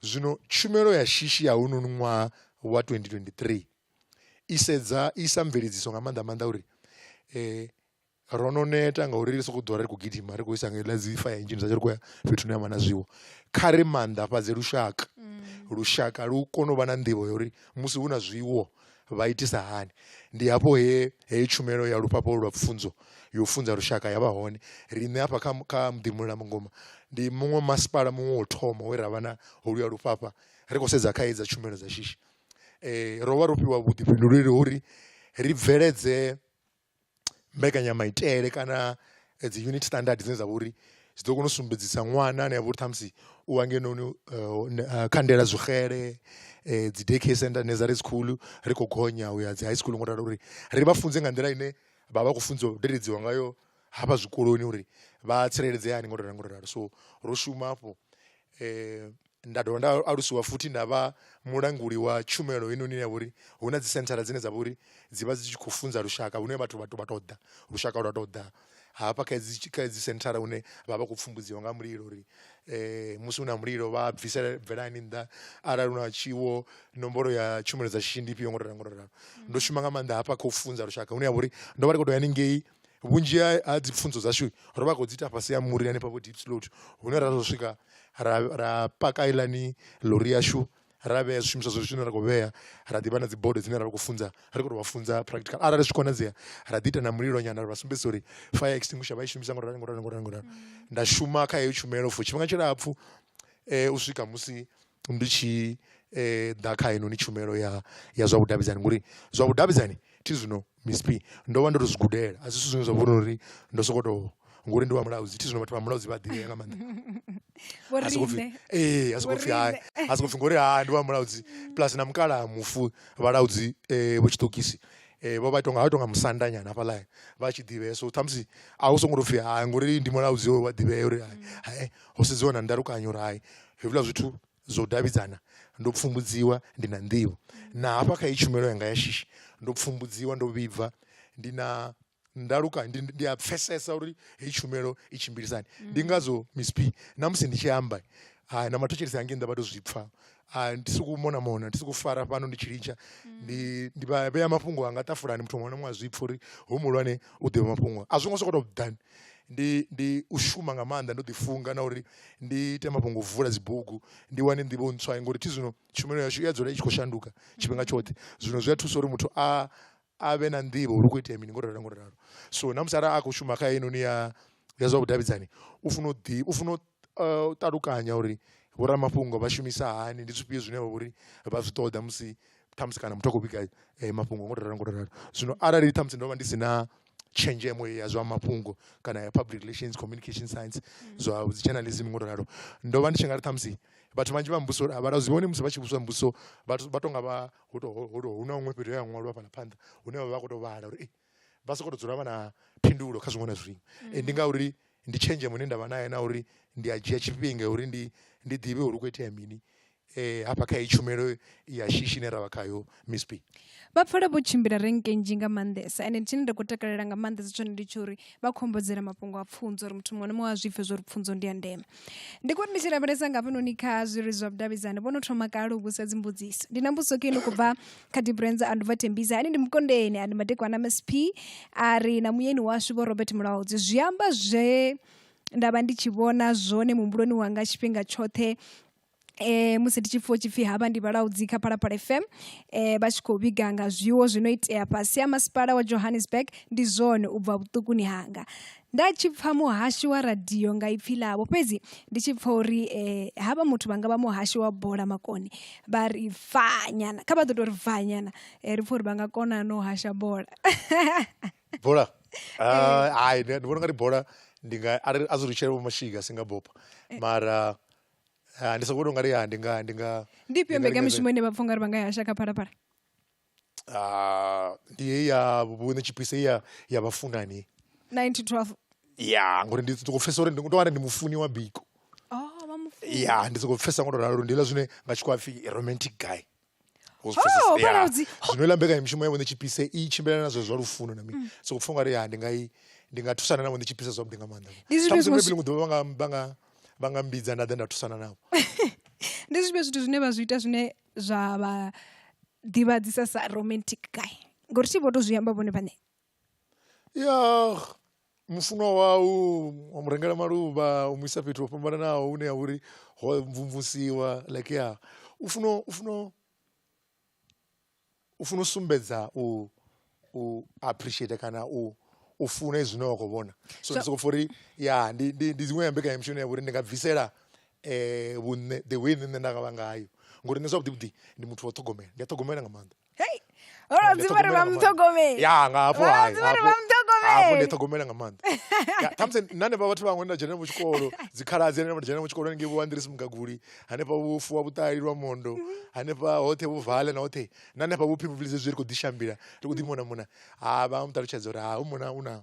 zwino tshumelo ya shishi ya hounoni ṅwaha wa 2023 i sedza i sa mveledziso nga maanḓa maanḓa uri um ro no neta ngauri ri sokou ḓora ri khou gidima ri khou isa nga ḽa dzi fire engine dza tshi ri khou ya fhethu hune ha vha na zwiwo kha ri maanḓafhadze lushaka mm. lushaka lu kone u vha na nḓivho ya uri musi hu na zwiwo vha itisa hani ndi hafho he heyi tshumelo ya lufhafho lwa pfunzo yo funza lushaka ya vha hone riṋe hafha kha kha muḓi muḽa mungoma ndi muṅwe masipala muṅwe wo thoma we ravha na holuya lufhafha ri khou sedza kha hedza tshumelo dza shishi ro vha ro fhiwa vhuḓifhinduleli ho uri ri bveledze mbekanyamaitele kana dzi unit standard dzine dza vha uri dzi ḓo kona u sumbedzisa ṅwana ane avha uri ṱhamusi u hangenono kha ndaela zwi xele dzi day care centre nursery school ri kho gonya uya dzi high school ngo ralo uri ri vha funze nga nḓila ine vha vha khou funziwa u deledziwa ngayo hafha zwikoloni uri vha tsireledzea hani ngo ralo ngo ralo so ro shuma afho . nda dovha nda alusiwa futhi nda vha mulanguli wa tshumelo heinoni ya vha uri hu na dzi senthara dzine dza vha uri dzi vha dzi tshi khou funza lushaka hune vhathu vhathu vha tou ḓa lushaka lwa tou ḓa hafha kha dzi kha dzi senthara hune vha vha khou pfumbudziwa nga mulilo uri musi hu na mulilo vha bvisa bvelani nnḓa arali hu na tshiwo nomboro ya tshumelo dza shishi ndi ifhio ngo to ralo ngo to ralo ndo shuma nga maanḓa hafha kha u funza lushaka hune ha vha uri ndo vha ndi kho to ya haningei vhunzhi ha dzi pfhunzo dzashu ro vha ri khou dzi ita fhasi ha muri hanefha vho Diepsloot hune ra tou swika ra ra paka heiḽani ḽori yashu ra vhea zwishumiswa zwashu zwine ra khou vhea ra ḓivha na dzi bodo dzine ra vha khou funza ri khou tou vha funza practical arali zwi tshi konadzea ra ḓi ita na mulilo nyana ra vha sumbedzisa uri fire extinguisher vha i shumisa ngoralo ngoralo ngoralo ngoralo nda shuma kha heyo tshumelo for tshifhinga tshilapfhu u swika musi Ndi tshi ḓa kha heinoni tshumelo ya ya zwa vhudavhidzani ngori zwa vhudavhidzani thi zwino ndo vha ndo to zwi gudela a si zwithu zwine zwa vhori uri ndo sokou tou ngori ndi wa mulaudzi thi zwino vhathu vha mulaudzi vha ḓivhea nga maanḓa a soko pfhi a soko pfhi hai a soko pfhi ngori hai ndi wa mulaudzi plus na mukalaha mufu vhalaudzi vho tshiṱokisi vho vha itonga vha itonga musanda nyana hafhaḽa vha tshi ḓivhea so ṱhamusi a u songo tou pfhi hai ngori ndi mulaudzi wa ḓivhea uri hai. ho sedziwa na ndalukanyo rai hezwiḽa zwithu zwo davhidzana ndo pfumbudziwa ndi na nḓivho na hafha kha i tshumelo yanga ya shishi ndo pfumbudziwa ndo vhibva ndi na ndalukanyo ndi, ndi a pfesesa uri heyi tshumelo i tshimbilisani ndi ngazwo misp na musi ndi tshi amba hai na mathotshelesi hangi nnḓa vha to zwi pfha a ndi sokou mona mona ndi sokou fara fhano ndi tshi litsha ndi ndi vha vhea mafhungo anga ṱafulani muthu muṅwe na muṅwe a zwi pfha uri hu muhulwane u ḓivha mafhungo a zwi ngo sokou tou ḓani ndi ndi u shuma nga maanḓa ndo ḓifunga na uri ndi ite mafhungo u vula dzibugu ndi wane nḓivho ntswa ngori thi zwino tshumelo yashu i ya dzula i tshi khou shanduka tshifhinga tshoṱhe zwino zwi a thusa uri muthu a a vhe na nḓivho uri hu khou itea mini ngo ralo ngo ralo so na musi arali a khou shuma kha heinoni ya ya zwa vhudavhidzani u funa u ḓi u funa u eh, ṱalukanya uri vhoramafhungo vha shumisa hani ndi zwifhio zwine vha vhori vha zwi ṱoḓa musi ṱhamusi kana muthu a khou vhiga eh, mafhungo ngo ralo ngo ralo zwino arali ṱhamusi ndo vha ndi si na tshenzhemo ya zwa mafhungo kana ya public relations communication science mm. zwa dzi journalism ngo ralo ndo vha ndi tshi nga ri ṱhamusi vhathu vhanzhi vha mbuso a vha zwi vhone musi vha tshi vhudzwa mbuso vhathu vha tonga vha hu to hu to hu na huṅwe fhethu he ha ṅwalwa fhaḽa phanḓa hune vha vha khou tou vhala uri vha sokou tou dzula vha na phindulo kha zwiṅwe na zwiṅwe mm. ndi ngauri ndi tshenzhemo ine nda vha nayo na uri ndi a dzhia tshifhinga uri ndi ndi ḓivhe uri u khou itea mini eh hafha kha itshumelo ya shishi ne ravha khayo Miss P vha pfala vho tshimbila renkenji nga mandesa ene tshine nda kho takalela nga mandesa tshone ndi tshori vha khombodzela mafhungo a pfunzo uri muthu muṅwe na muṅwe a zwipfe zwo ri pfunzo ndi ya ndeme ndi kuti ndi tshi lavhelesa nga hafhanoni kha zwiri zwa vhudavhidzani vho no thoma kale u vhusa dzimbudziso ndi na mbudziso keni kubva kha dibrenza a ndubva thembisa ani ndi mukondeni a ndi madekwana msp a ri na muyeni washu vho robert mulaudzi zwi amba zwe nda vha ndi tshi vhona zwone muhumbuloni wanga tshifhinga tshoṱhe eh musi ndi tshi pfha tshipfi havha ndi vhalaudzi kha phalaphala fm eh vha tshi khou vhiga nga zwiwo zwi no itea fhasi ha masipala wa johannesburg ndi zwone u bva vhuṱukuni hanga nda tshi pfha muhashi wa radio nga ipfi ḽavho fhedzi ndi tshi pfha uri eh havha muthu vha nga vha muhashi wa bola makone vha ri fanyana kha vha ḓo tou ri fanyana eh, ri pfha uri vha nga kona no hasha bola bola Ah, hayi ndi ndi vhona ungari bola ndi nga ari a zwi ri tshele vho mashika singa bopa mara Ah, ndi sokoto ngari ya ndi nga ndi nga ndi ifhio mbekamishumo ine vhapfa ungari vha nga yasha kha phalaphala ah, ndi heyi ya vhuṋe tshipise ya ya vhafunani 912 ya ngori ndi soko pfhesa uri ndi tovhana ndi mufuni wa biko oh vha mufu ya ndi soko pfhesa ngo to ralo ndi hela zwine nga tshikhwapfi romantic guy Wo zwi pfesesa? Oh, Ya. Khaladzi. zwino iḽa mbekanyamushumo yavho ndi tshipise i tshimbilelana na zwe zwa lufuno na mini so kupfa ungari ya ndi nga i ndi nga thusana navho ndi tshipise zwavhuḓi nga maanḓa Ndi zwifhio Ṱhamusi zwiṅwe maybe ḽiṅwe ḓuvha vha nga- vha nga- vha nga mbidza nda ḓa nda thusana navho ndi zwifhio zwithu zwine vha zwi ita zwine zwa vha ḓivhadzisa sa romantic guy ngori thi vho to zwi amba vhone vhaṋe ya mufunwa wau wa mu rengela maluvha u mu isa fhethu ho fhambananaho hune ha vha uri ho mvumvusiwa like ya u funa u funa u funa u sumbedza u u appreciate kana u u funa zwine wa khou vhona so ndi soko pfha uri ya ndi ndi ndi dziṅwe ya mbekanyamushumo ine ya vha uri ndi nga bvisela um vhunṋe the way nṋe nṋe nda nga vha ngayo ngori nṋe zwavhuḓi vhuḓi ndi muthu wa u ṱhogomela ndi a ṱhogomela nga maanḓa. hei vhalwadzi vha ri vha muṱhogomeli ya nga hafho vhalwadzi vha ri vha muṱhogomeli ndi ṱhogomela nga maanḓa khamusi na hanefha vhathu vhaṅwe nda dzhena mu tshikolo dzikhaladzi hanefha nda dzhena mu tshikolo ngei vho andrisi mugaguli hanefha vhufu wa vhuṱali lwa mondo hanefha hoṱhe vhuvale na hoṱhe na hanefha vhuphi vhuvhili zwezwi ri khou ḓishambila ri khou ḓi mona mona ha vha muṱalutshedza uri ha u mona u na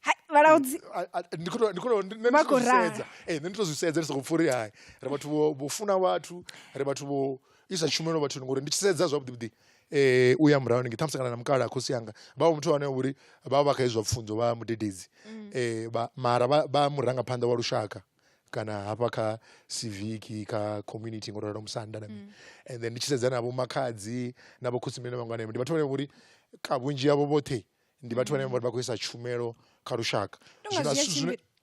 Hai, vhalaudzi A- a- ndi khou tou- ndi khou tou- ndi- nṋe Vha ndi khou khou raha. zwisedza Eh, nṋe ndi to zwisedza ndi sokou pfha uri hai ri vhathu vho vho funa vhathu ri vhathu vho isa tshumelo vhathuni ngori ndi tshi sedza zwavhuḓivhuḓi eh u ya murahu ningi ṱhamusi kana na mukala khosi yanga vha vha muthu ane uri vha vha vha kha izwa pfunzo vha mudededzi eh vha mara vha vha murangaphanḓa wa lushaka kana hafha kha civic kha community ngo ralo musanda na mini and then ndi tshi sedza na vho makhadzi na vho khosimene na vhangwana ndi vhathu vhane vhori ka vhunzhi yavho vhoṱhe ndi vhathu vhane vha khou isa tshumelo kha lushaka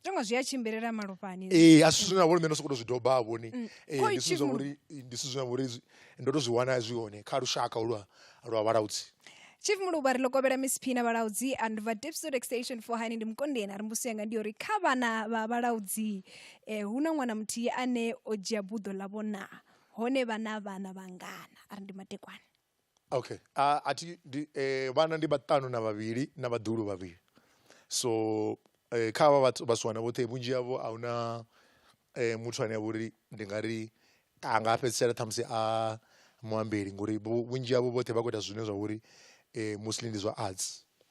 tonga zwi a tshimbilela malofhani ee a si zwine na vhori nṋe ndo sokoto zwi doba ha vhoni mm. ee ndi zwithu zwa vhori ndi zwithu zwine na vhori ndo to zwi wana zwi hone kha lushaka lwa lwa vhalaudzi chief muluba ri lokobela miss phina vhalaudzi and va dipsod extension for hani ndi mukondeni a ri mbuso yanga ndi yori kha vhana vha vhalaudzi eh, hu na ṅwana muthihi ane o dzhia buḓo ḽavho naa hone vhana vhana vhangana a ri ndi matekwane Okay a thi ndi vhana ndi vhaṱanu na vhavhili na vhaḓuhulu vhavhili so kha havha vhathu vhasiwana vhoṱhe vhunzhi havho ahuna muthu ane avha uri ndi nga ri a nga fhedzisela ṱhamusi a muambeli ngori vhunzhi havho vhoṱhe vha khou ita zwine zwa vha uri mostly ndi zwa arts.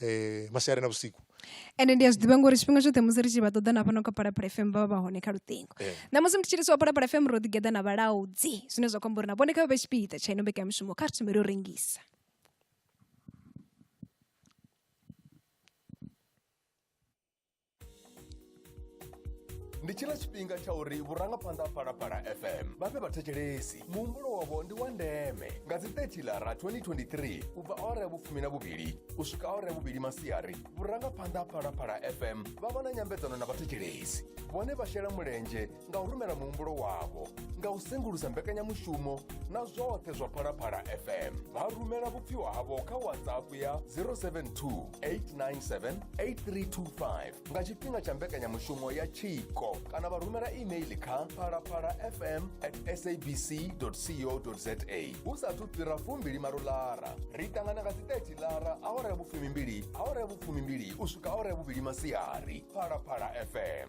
eh, masiari na vhusiku ende ndi a zwi ḓivha ngori tshifhinga tshoṱhe musi ri tshi vha ṱoḓa na fhano kha parapara fm vha vha vha hone kha luṱingo eh. ṋamusi ndi tshilisi wa parapara fm ro ḓigeḓa na vhalaudzi zwine zwa khou amba uri na vhone kha vha vhe tshipiḓa tsha ino mbekanyamushumo kha ri thomele u rengisa ndi tshila tshifhinga tsha uri vhurangaphanḓa ha phalaphala fm vha fhe vhathetshelesi muhumbulo wavho ndi wa ndeme nga dzi 30 lara 2023 u bva awara ya vhufumi na vhuvhili u swika awara ya vhuvhili masiari vhurangaphanḓa ha phalaphala fm vha vha na nyambedzano na vhathetshelesi vhone vha shela mulenzhe nga u rumela muhumbulo wavho nga u sengulusa mbekanyamushumo na zwoṱhe zwa phalaphala fm vha rumela vhupfiwa havho kha whatsapp ya 072 897 8325 nga tshifhinga tsha mbekanyamushumo ya tshiko kana vha rumela email kha phalaphala fm at sabc co za hu sathu fhira fumbili malo lara ri ṱangana nga dziteti lara awara ya vhufumimbili awara ya vhufumimbili u swika awara ya vhuvhili masiari phalaphala fm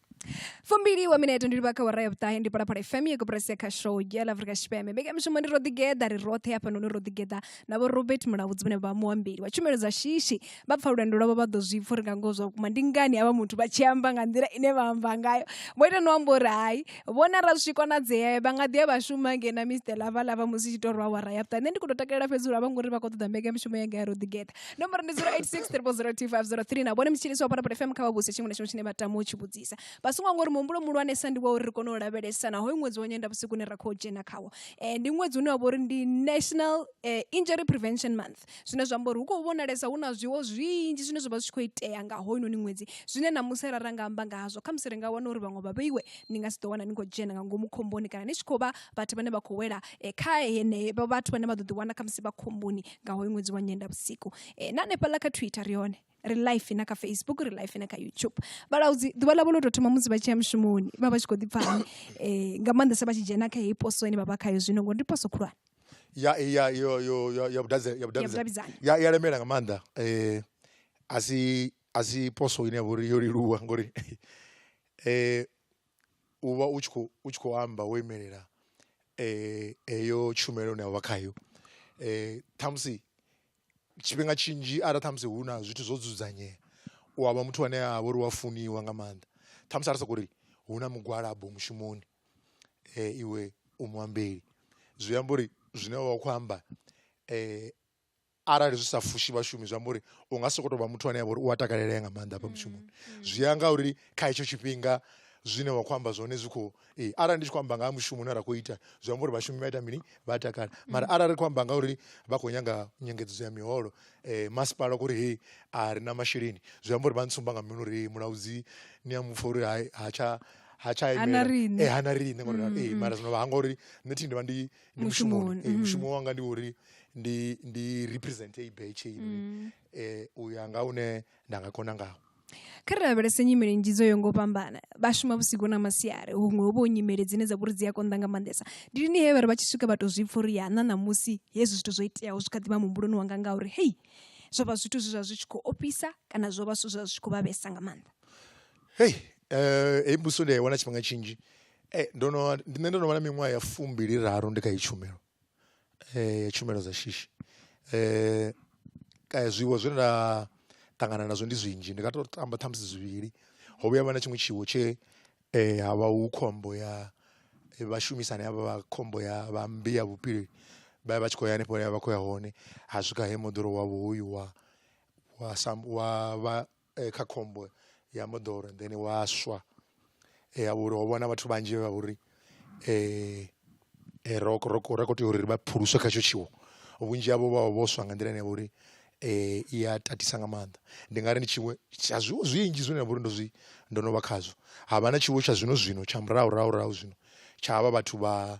fumbili wa minete ndi livha kha wara ya vhuṱahe ndi phalaphala fm ya koporasi ya kha show ya la afrika tshipembe mbekamishumo ndi ro ḓigeḓa ri roṱhe hafha noni ro ḓigeḓa na vho robert mulabudzi vhane vha muambeli wa tshumelo dza shishi vha pfa lwendo lwavho vha ḓo zwi pfa uri nga ngoho zwa vhukuma ndi ngani havha muthu vha tshi amba nga nḓila ine vha amba ngayo vho ita no amba uri hai vhona ra zwi konadzea vha nga ḓi ya vha shuma nge na mr lava lava musi tshi tou rwa wara ya vhuṱahe nṋe ndi khou tou takalela fhedzi uri a vho ngori vha khou ṱoḓa mbekamishumo yanga ya ro ḓigeḓa nomboro ndi 0863402503 na vhone mutshilisi wa parapara fm kha vha vhuse tshiṅwe na tshiṅwe tshine vha tama u tshi vhudzisa vha songo ngori muhumbulo muhulwanesa ndi wa uri ri kone u lavhelesa na hoyu ṅwedzi wa nyenda vhusiku une ra khou dzhena khawo um ndi ṅwedzi une wa vha uri ndi national um injury prevention month zwine zwa amba uri hu khou vhonalesa hu na zwiwo zwinzhi zwine zwa vha zwi tshi khou itea nga hoyunoni ṅwedzi zwine na musi ra ra nga amba nga hazwo kha musi ri nga wana uri vhaṅwe vha vheiwe ni nga si ḓo wana ni khou dzhena nga ngomu khomboni kana ni tshi khou vha vhathu vhane vha khou wela um kha henevho vhathu vhane vha ḓo ḓi wana kha musi vha khomboni nga hoyu ṅwedzi wa nyenda vhusiku e, na hanefhaḽa kha twitter ri hone ri life na kha facebook ri life na kha youtube vhalaudzi ḓuvha ḽavho ḽo tou thoma musi vha tshi ya mushumoni vha vha tshi khou ḓipfa hani um nga maanḓesa vha tshi dzhena kha heyi poso ine vha vha khayo zwino ngori ndi poso khulwane ya ya yo yo ya ya vhudavhidzani ya vhudavhidzani ya ya lemela nga maanḓa eh asi asi poso ine ya vhori yo leluwa ngori eh u vha u tshi khou u tshi khou amba wo imelela heyo tshumelo ine wavha khayo ṱhamusi tshifhinga tshinzhi arali ṱhamusi hu na zwithu zwo dzudzanyea u avha muthu ane a vha uri wa funiwa nga maanḓa ṱhamusi a ri soko ri hu na mugwalabo mushumoni iwe u muambeli zwi amba uri zwine wa kho amba arali zwi sa fushi vhashumi zwi amba uri u nga sokou tou vha muthu ane a vha uri u a takalelea nga maanḓa hafha mushumoni mm, mm. zwi ya nga uri kha hetsho tshifhinga zwine wa khou amba zwone zwi khou ee arali ndi tshi khou amba nga ha mushumo une ra khou ita zwi amba uri vhashumi vha ita mini vha takala mm. mara arali ri khou amba nga uri vha khou nyanga nyengedzedzo ya miholo um masipala u kho uri hei a ri na masheleni zwi amba uri vha ntsumba nga mini uri mulaudzi ni a mupfa uri ha tsha ha tsha imela eh, hana riṋe ngori ee mara zwino vha hanga uri nṋe thi ndi vha ndi ndi mushumoni Mushumoni, Eh, mm. mushumo wanga ndi uri ndi ndi represent i batch ine Mm. eh u ya nga une nda nga kona ngawo kha ri lavhelese nyimele nnzhi dzo yo ngo fhambana vha shuma vhusiku na masiari huṅwe hu vho nyimele dzine dza vhori dzi a konḓa nga maanḓesa ndi lini he vhari vha tshi swika vha tou zwi pfha uri ya na ṋamusi hezwi zwithu zwo iteaho zwi kha ḓivha muhumbuloni wanga nga uri hei zwo vha zwithu zwe zwa zwi tshi khou ofhisa kana zwo vha zwithu zwa zwi tshi khou vha vhesa nga maanḓa hei eh heyi mbuso ndi a i wana tshifhinga tshinzhi Ee, ndo no ndi nṋe ndo no vha na miṅwaha ya fumbili raru ndi kha heyi tshumelo ya tshumelo dza shishi zwiwo zwe nda ṱangana nazwo ndi zwinzhi ndi nga to amba ṱhamusi zwivhili. Ho vhuya ha vha na tshiṅwe tshiwo tshe ha vha hu khombo ya vhashumisani havha vha khombo ya vha mmbi ya vhufhiri vha vha vha tshi khou ya hanefho hune vha vha khou ya hone ha swika he moḓoro wavho hoyu wa wa sa wa vha. kha khombo ya moḓoro then wa swa ya uri ho vhona vhathu vhanzhi vha vhori ro ro ro kho tea uri vha phuluswe kha hetsho tshiwo vhunzhi havho vha vha vho swa nga nḓila ine ya vha uri i a tatisa nga maanḓa ndi nga ri ndi tshiṅwe tsha zwiwo zwinzhi zwine nda vha uri ndo zwi ndo no vha khazwo havha na tshiwo tsha zwino zwino tsha murahu rahu rahu zwino tsha havha vhathu vha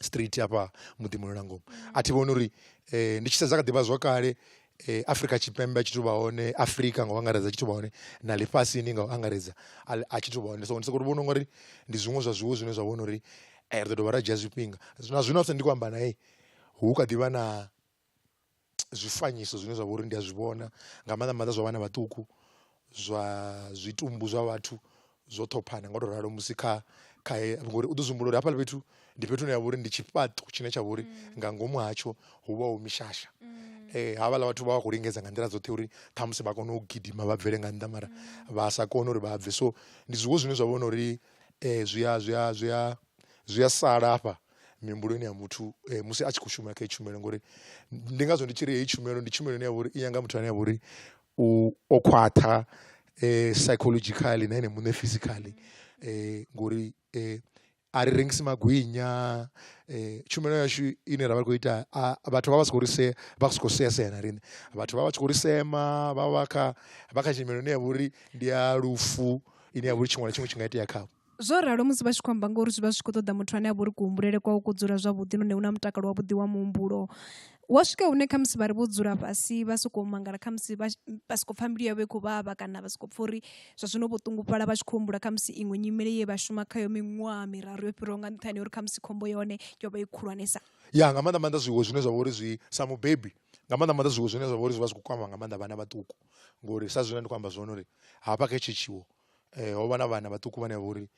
straight hafha muḓi muno na ngomu a thi vhoni uri um ndi tshi sedza kha ḓivha zwakale um afrika tshipembe a tshi tou vha hone afrika nga u angaredza tshi tou vha hone na ḽifhasini nga u angaredza a tshi tou vha hone so ndi soko ri vhona u nga ri ndi zwiṅwe zwa zwiwo zwine zwa vhona uri ri ḓo dovha ra dzhia zwifhinga na zwino a fhedza ndi khou amba nae hu kha ḓivha na zwifanyiso zwine zwa vha uri ndi a zwi vhona nga maanḓa maanḓa zwa vhana vhaṱuku zwa zwitumbu zwa vhathu zwo ṱhophana nga u to ralo musi kha kha ngori u ḓo zwi humbula uri hafhaḽa fhethu ndi fhethu hune ha vha uri ndi tshifhaṱo tshine tsha vha uri nga ngomu hatsho hu vha hu mishasha havhaḽa vhathu vha vha khou lingedza nga nḓila dzoṱhe uri ṱhamusi vha kone u gidima vha bvele nga nnḓa mara vha sa kone uri vha bve so ndi zwiṅwe zwine zwa vhona uri zwi a zwi a zwi a zwi a sala hafha mihumbuloni ya muthu eh, musi a tshi khou shuma kha i tshumelo ngori ndi ngazwo ndi tshi ri heyi tshumelo ndi tshumelo ine ya vhori i nyanga muthu ane ya vhori u o khwaṱha eh, psychologically na ene muṋe physically eh, ngori eh, a ri rengisi magwinya eh, tshumelo yashu ine ra vha khou ita vhathu vha vha si khou ri se vha si khou sea sea na riṋe vhathu vha vha tshi khou ri sema vha vha kha vha kha tshimelo ine ya vhori ndi ya lufu ine ya vhori tshiṅwe na tshiṅwe tshi nga itea khavho Zwo ralo musi vha tshi khou amba ngori zwi vha zwi khou ṱoḓa muthu ane a vha uri kuhumbulele kwawe ku dzula zwavhuḓi nahone u na mutakalo wavhuḓi wa muhumbulo wa swika hune khamusi vha ri vho dzula fhasi vha sokou mangala khamusi vha vha sokou pfha mbilu yavho i khou vhavha kana vha sokou pfha uri zwa zwino vho ṱungufhala vha tshi khou humbula khamusi iṅwe nyimele ye vha shuma khayo miṅwaha miraru yo fhiraho nga nṱhani uri khamusi khombo ya hone yo vha i khulwanesa ya nga maanḓa maanḓa zwiwo zwine zwa vha uri zwi sa mubebi nga maanḓa maanḓa zwiwo zwine zwa vha uri zwi vha zwi khou kwama nga maanḓa vhana vhaṱuku ngori sa zwine ndi khou amba zwone uri hafha kha hetshi tshiwo ho vha na vhana vhaṱuku vhane vha uri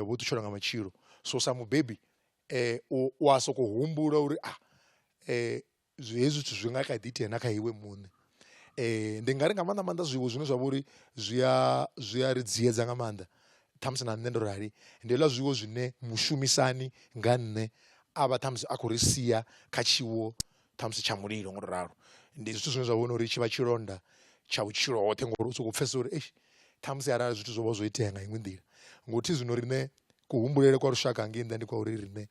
vho ṱutshela nga matshilo so sa mubebi u a soko humbula uri a zwi hezwi zwithu zwi nga kha ḓi itea na kha iwe muṋe. Ndi nga ri nga maanḓa maanḓa zwiṅwe zwine zwa vha uri zwi a zwi a ri dziedza nga maanḓa ṱhamusi na nṋe ndo rali ndi hezwiḽa zwiwo zwine mushumisani nga nṋe a vha ṱhamusi a khou ri sia kha tshiwo ṱhamusi tsha mulilo ngo to ralo ndi zwithu zwine zwa vhona uri tshivha tshilonda tsha vhutshilo hoṱhe ngori u soko pfhesesa uri eish ṱhamusi arali zwithu zwo vha zwo itea nga iṅwe nḓila ngo thi zwino riṋe kuhumbulele kwa lushaka ngei nnḓa ndi kwa uri riṋe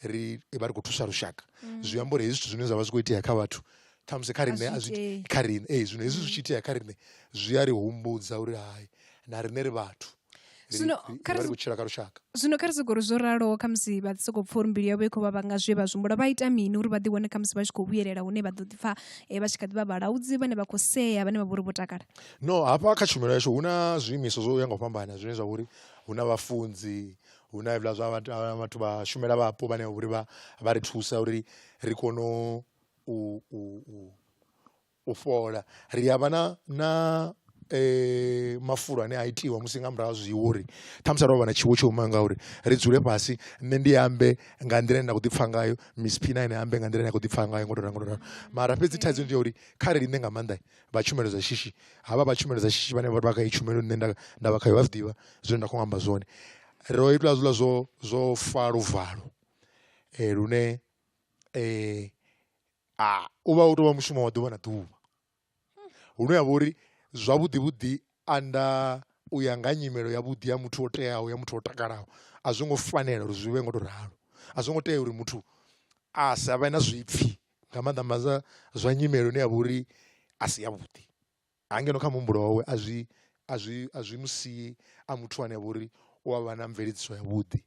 ri vha ri khou thusa lushaka mm. zwi amba uri hezwi zwithu zwine zwa vha zwi khou itea kha vhathu ṱhamusi kha riṋe a zwi kha riṋe ee zwino hezwi zwi tshi itea kha riṋe zwi a ri humbudza uri hai na riṋe ri vhathu zwino kha ri vhutshila kha lushaka zwino kha ri sokori zwo raloho kha musi vha soko pfha uri mbilu yavho i khou vha vhanga zwe vha zwimbula vha ita mini uri vha ḓi wane kha musi vha tshi khou vhuyelela hune vha ḓo ḓi pfha eh, vha tshi kha ḓi vha vhalaudzi vhane vha khou sea vhane vha vhori vho takala no hafha kha tshumelo yashu hu na zwiimiswa zwo ya nga u fhambana zwine zwa vhori hu na vhafunzi hu na hevhila zwa vhathu vha shumela vhapo vhane vha vhori vha ri thusa uri ri kone u u fhola ri a vha na na mafulo ane a itiwa musi nga murahu ha zwiwo uri ṱhamusi ro vha na tshiwo tsho imaho ngauri ri dzule fhasi nṋe ndi ambe nga nḓila ine nda khou ḓi pfha ngayo miss phina ine ambe nga nḓila ine a khou ḓi pfha ngayo ngo to ralo ngo to ralo mara fhedzi thaidzo ndi ya uri kha ri linde nga maanḓa vha tshumelo dza shishi havha vha tshumelo dza shishi vhane vha vha kha heyi tshumelo nṋe nda nda vha khayo vha zwiḓivha zwine nda kho amba zwone ro itelwa hezwiḽa zwo zwo fa luvalo lune a u vha u tou vha mushumo wa ḓuvha na ḓuvha hune ya vha uri zwavhuḓi vhuḓi anda u ya nga nyimelo ya vhuḓi ya muthu o teaho ya muthu o takalaho a zwo ngo fanela uri zwi vhe ngo tou ralo a zwo ngo tea uri muthu a sa vhe na zwipfhi nga maanḓa maanḓa zwa nyimele ine ya vha uri a si yavhuḓi. Ha ngeno kha muhumbulo wawe a zwi a zwi a zwi musii a muthu ane a vha uri u avha na mveledziso ya vhuḓi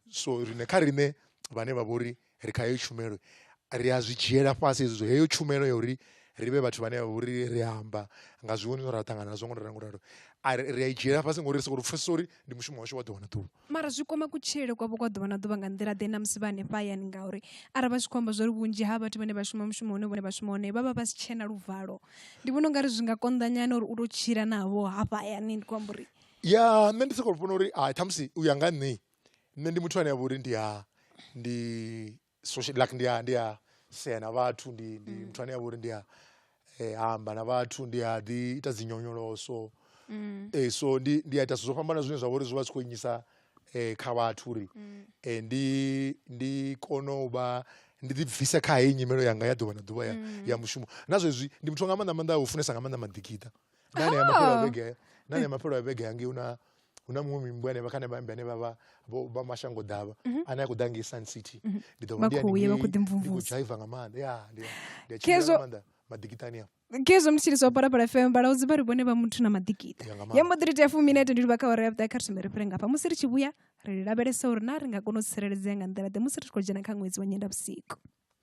so riṋe kha riṋe vhane vha vhori ri kha heyo tshumelo ri a zwi dzhiela fhasi hezwi zwo heyo tshumelo ya uri ri vhe vhathu vhane vha vhori ri amba nga zwiwo zwine ra ṱangana nazwo ngo to ralo ngo to ralo a ri a i dzhiela fhasi ngori ri soko pfhesesa uri ndi mushumo washu wa ḓuvha na ḓuvha. Mara zwi kwama kutshilele kwavho kwa ḓuvha na ḓuvha nga nḓila ḓe na musi vha hanefha hayani ngauri arali vha tshi khou amba zwa uri vhunzhi ha vhathu vhane vha shuma mushumo une vhone vha shuma hone vha vha vha si tshena luvalo ndi vhona ungari zwi nga konḓa nyana uri u to tshila navho hafha hayani ndi khou amba uri ya nṋe ndi soko vhona uri hai ṱhamusi u ya nga nṋe nṋe ndi muthu ane avha uri ndi a ndi social like ndi a ndi a sea na vhathu ndi ndi mm. muthu ane a vhori ndi a eh, amba na vhathu ndi a ḓi ita dzi nyonyoloso mm. eh, so ndi ndi a ita zwo fhambana zwine zwa vhori zwi vha zwi khou inyisa eh, kha vhathu uri mm. eh, ndi ndi kono u vha ndi ḓi bvisa kha heyi nyimelo yanga ya ḓuvha na ḓuvha ya, mm. ya mushumo na zwezwi ndi muthu nga maanḓa maanḓa a u funesa nga maanḓa maḓikiṱa nani ya mapelo Ah. vhege nani ya mapelo a vhege hangei una una muṅwe mimbwa henevha khane vhambe ane vhavha vha mashango ḓavha ane a khou ḓa ngei sun city ndi ḓo Mhm. Vha khou ya, vha khou ḓi mvumvusa. dzhaiva nga maanḓa ya ndi a- ndi a tshimbila Khezwo- nga maanḓa maḓikitani a khezwo ndi tshilisa wa parapara fm vhalaudzi vha ri vhone vha muthu na maḓikita Ya nga maanḓa. ya mbo ḓi ri tea fuminete ndi livha kha ore ya vhuṱae kha ri thome ri fhire ngafha musi ri tshi vhuya ri lavhelesa uri na ri nga kona u tsireledzea nga nḓila ḓe musi ri tshi khou dzhena kha ṅwedzi wa nyenda vhusiku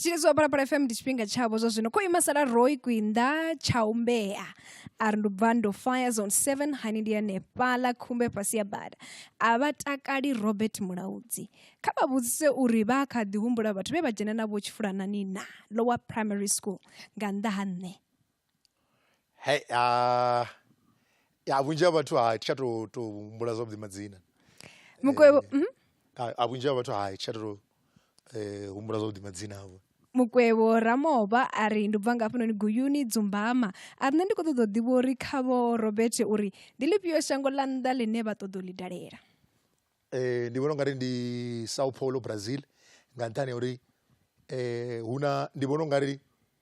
tshine zwa vhona phala fm ndi tshifhinga tshavho zwa zwino kho ima sala roi kwinda tsha umbea a ri ndubva ndo fire zone 7 hani ndi hanefhala khumbe fhasi ya bada a vha takali robert mulaudzi kha vha vhudzise uri vha kha ḓi humbula vhathu vhe vha dzhena navho tshifulanani na lower primary school nga nnḓa ha nṋe Hai a ya vhunzhi ha vhathu ha tsha to to humbula zwavhuḓi madzina. Mukwevho mhm. A a vhunzhi ha vhathu ha tsha to eh humbula zwavhuḓi madzina avho. Mukwevho Ramoba a ri ndi bva nga hafhanoni Guyuni Dzumbama. A ri nṋe ndi khou ṱoḓa u ḓivha uri kha vho Robert uri ndi ḽifhio shango ḽa nnḓa ḽine vha ṱoḓa u ḽi dalela. Eh ndi vhona ungari ndi Sao Paulo Brazil nga nṱhani ha uri eh huna ndi vhona ungari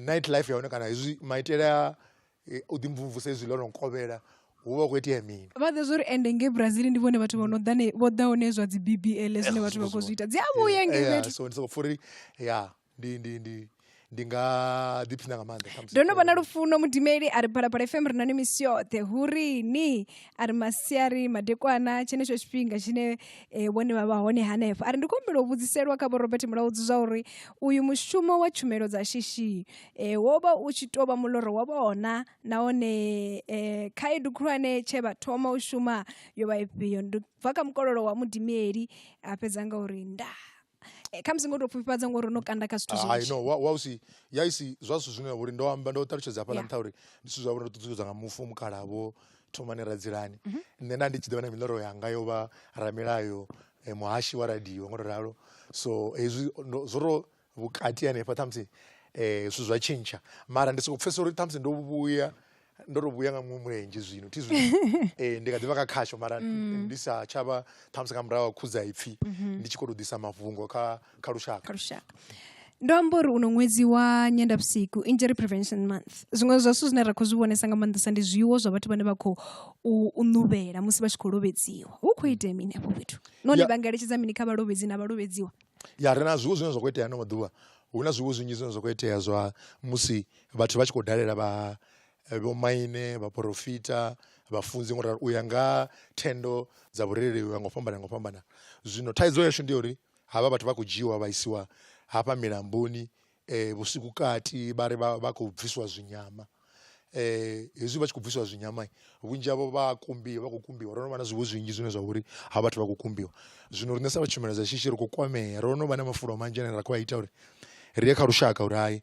Night life ya hone kana hezwi maitele a u ḓi mvumvusa hezwi ḽo no kovhela hu vha hu khou itea mini. Vha ḓivha zwa uri ende ngei Brazil ndi vhone vhathu vho no ḓa vho ḓa hone zwa dzi B_B_L zwine vhathu vha khou zwi ita dzi a vhuya ngei fhethu. So ndi soko pfha uri ya ndi ndi ndi ndi nga ḓiphina nga maanḓa khamusi. Ndo no vha na lufuno mudimeli a ri Phalaphala FM ri na ni misi yoṱhe hu ri ni a ri masiari madekwana tshenetsho tshifhinga tshine eh, vhone vha vha hone hanefho a ri ndi khou humbela u vhudziselwa kha vho robert mulaudzi zwa uri uyu mushumo wa tshumelo dza shishi eh, wo vha u tshi tou vha muloro wa vhona nahone eh, khaedu khulwane tshe vha thoma u shuma yo vha ifhio ndi bva kha mukololo wa mudimieli a fhedza nga uri ndaa eh, khamusi ngo tou pfufhifhadza ngori no kanda kha zwithu hai no wa wa u si ya isi zwa zwithu zwine uri ndo amba ndo ṱalutshedza hafhaḽa Yeah. nṱha uri ndi zwithu zwa uri ndo ṱuṱuwedzwa nga mufu mukhala vho thomani radzilani Mhm. nṋe nda ndi tshi ḓivha na miloro yanga yo vha ramilayo eh, muhashi wa radio ngo to ralo so hezwi ndo- zwo ro vhukati hanefha ṱhamusi um zwithu zwa tshintsha mara ndi soko pfesesa uri ṱhamusi ndo vhuya ndo to vhuya nga muṅwe mulenzhe zwino thi zwino eh, ndi kha ḓivha kha khasho mara mm. ndi sa tshavha ṱhamusi nga murahu khudza ipfhi mhm. ndi tshi khou tou ḓisa mafhungo kha kha lushaka kha lushaka ndo amba uri uno ṅwedzi wa nyendavhusiku injury prevention month zwiṅwe zwa zwithu zwine ra khou zwi vhonesa nga maanḓesa ndi zwiwo zwa vhathu vhane vha khou u ṋuvhela musi vha tshi khou lovhedziwa hu khou itea mini afho fhethu none vha nga eletshedza mini kha vhalovhedzi na vhalovhedziwa ya ri na zwiwo zwine zwa khou itea ano maḓuvha hu na zwiwo zwinzhi zwine zwa khou itea zwa musi vhathu vha tshi khou dalela vha eh, vhomaine vhaporofita vhafunzi ngo ralo u ya nga thendo dza vhurereli u ya ngo fhambana ngo fhambana zwino thaidzo yashu ndi uri havha vhathu vha khou dzhiwa vha isiwa hafha milamboni eh, vhusiku kati vha ri vha khou bviswa zwinyama eh hezwi vha tshi khou bviswa zwinyama vhunzhi havho vha kumbiwa vha khou kumbiwa ro no vha na zwiwo zwinzhi zwine zwa vha uri ha vhathu vha khou kumbiwa zwino riṋe sa vha tshumelo dza shishi ri khou kwamea ro no vha na mafulo manzhi ane ra khou a ita uri ri ye kha lushaka uri hai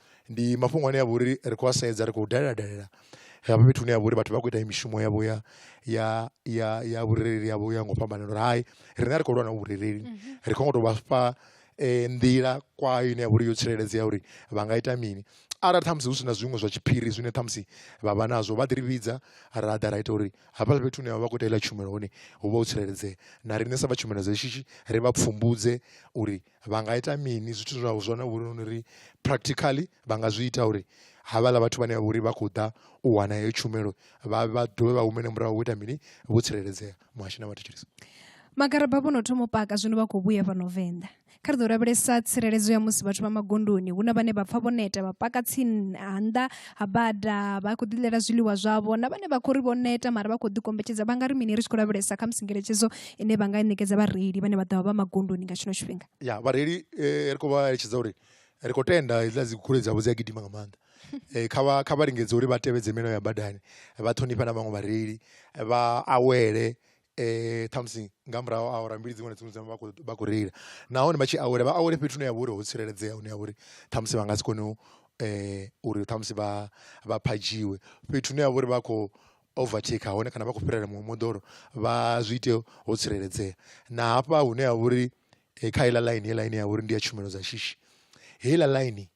ndi mafhungo ane a vha uri ri khou a sedza ri khou dalela dalela hafha fhethu hune ha vha uri vhathu vha khou ita mishumo yavho ya ya ya ya vhurereli yavho ya nga u fhambana uri hai riṋe a ri khou lwa na vhurereli ri khou ngo tou vha fha nḓila kwayo ine ya vha uri yo tsireledzea uri vha nga ita mini arali ṱhamusi hu si na zwiṅwe zwa tshiphiri zwine ṱhamusi vha vha nazwo vha ḓi ri vhidza ra ḓa ra ita uri hafha fhethu hune vha vha khou ita heiḽa tshumelo hone hu vha ho tsireledzea na riṋe sa vha tshumelo dza shishi ri vha pfhumbudze uri vha nga ita mini zwithu zwa zwone vhone uri practically vha nga zwi ita uri havhaḽa vhathu vhane vha vha uri vha khou ḓa u wana heyo tshumelo vha vha dovhe vha humele murahu vho ita mini vho tsireledzea muhashi na vhathetshelesi magaraba vho no thoma u paka zwino vha khou vhuya fhano venḓa kha ri ḓo lavhelesa tsireledzo ya musi vhathu vha magondoni hu na vhane vha pfa vho neta vha paka tsini ha nnḓa ha bada vha khou ḓiḽela zwiḽiwa zwavho na vhane vha khou ri vho neta mara vha khou ḓikombetshedza vha nga ri mini ri tshi khou lavhelesa kha musi ngeletshedzo ine vha nga i ṋekedza vhareili vhane vha ḓovha vha magondoni nga tshino tshifhinga ya vhareili ri khou vha eletshedza uri ri khou tenda hedzila dzi goloi dzavho dzi a gidima nga maanḓa um kha vha kha vha lingedze uri vha tevhedze milayo ya badani vha ṱhonifhe na vhaṅwe vhareili vha awele um ṱhamusi nga murahu a awara mbili dziṅwe na dziṅwe dzine vha khou vha khou reila nahone vha tshi awela vha awele fhethu hune ha vha uri ho tsireledzea hune ha vha uri ṱhamusi vha nga si kone u um uri ṱhamusi vha vha phadzhiwe fhethu hune ha vha uri vha khou overtaker hone kana vha khou fhirela muṅwe moḓoro vha zwi ite ho tsireledzea na hafha hune ha vhori eh, kha heiḽa line heiḽa ine ya vhori ndi ya tshumelo dza shishi heiḽa line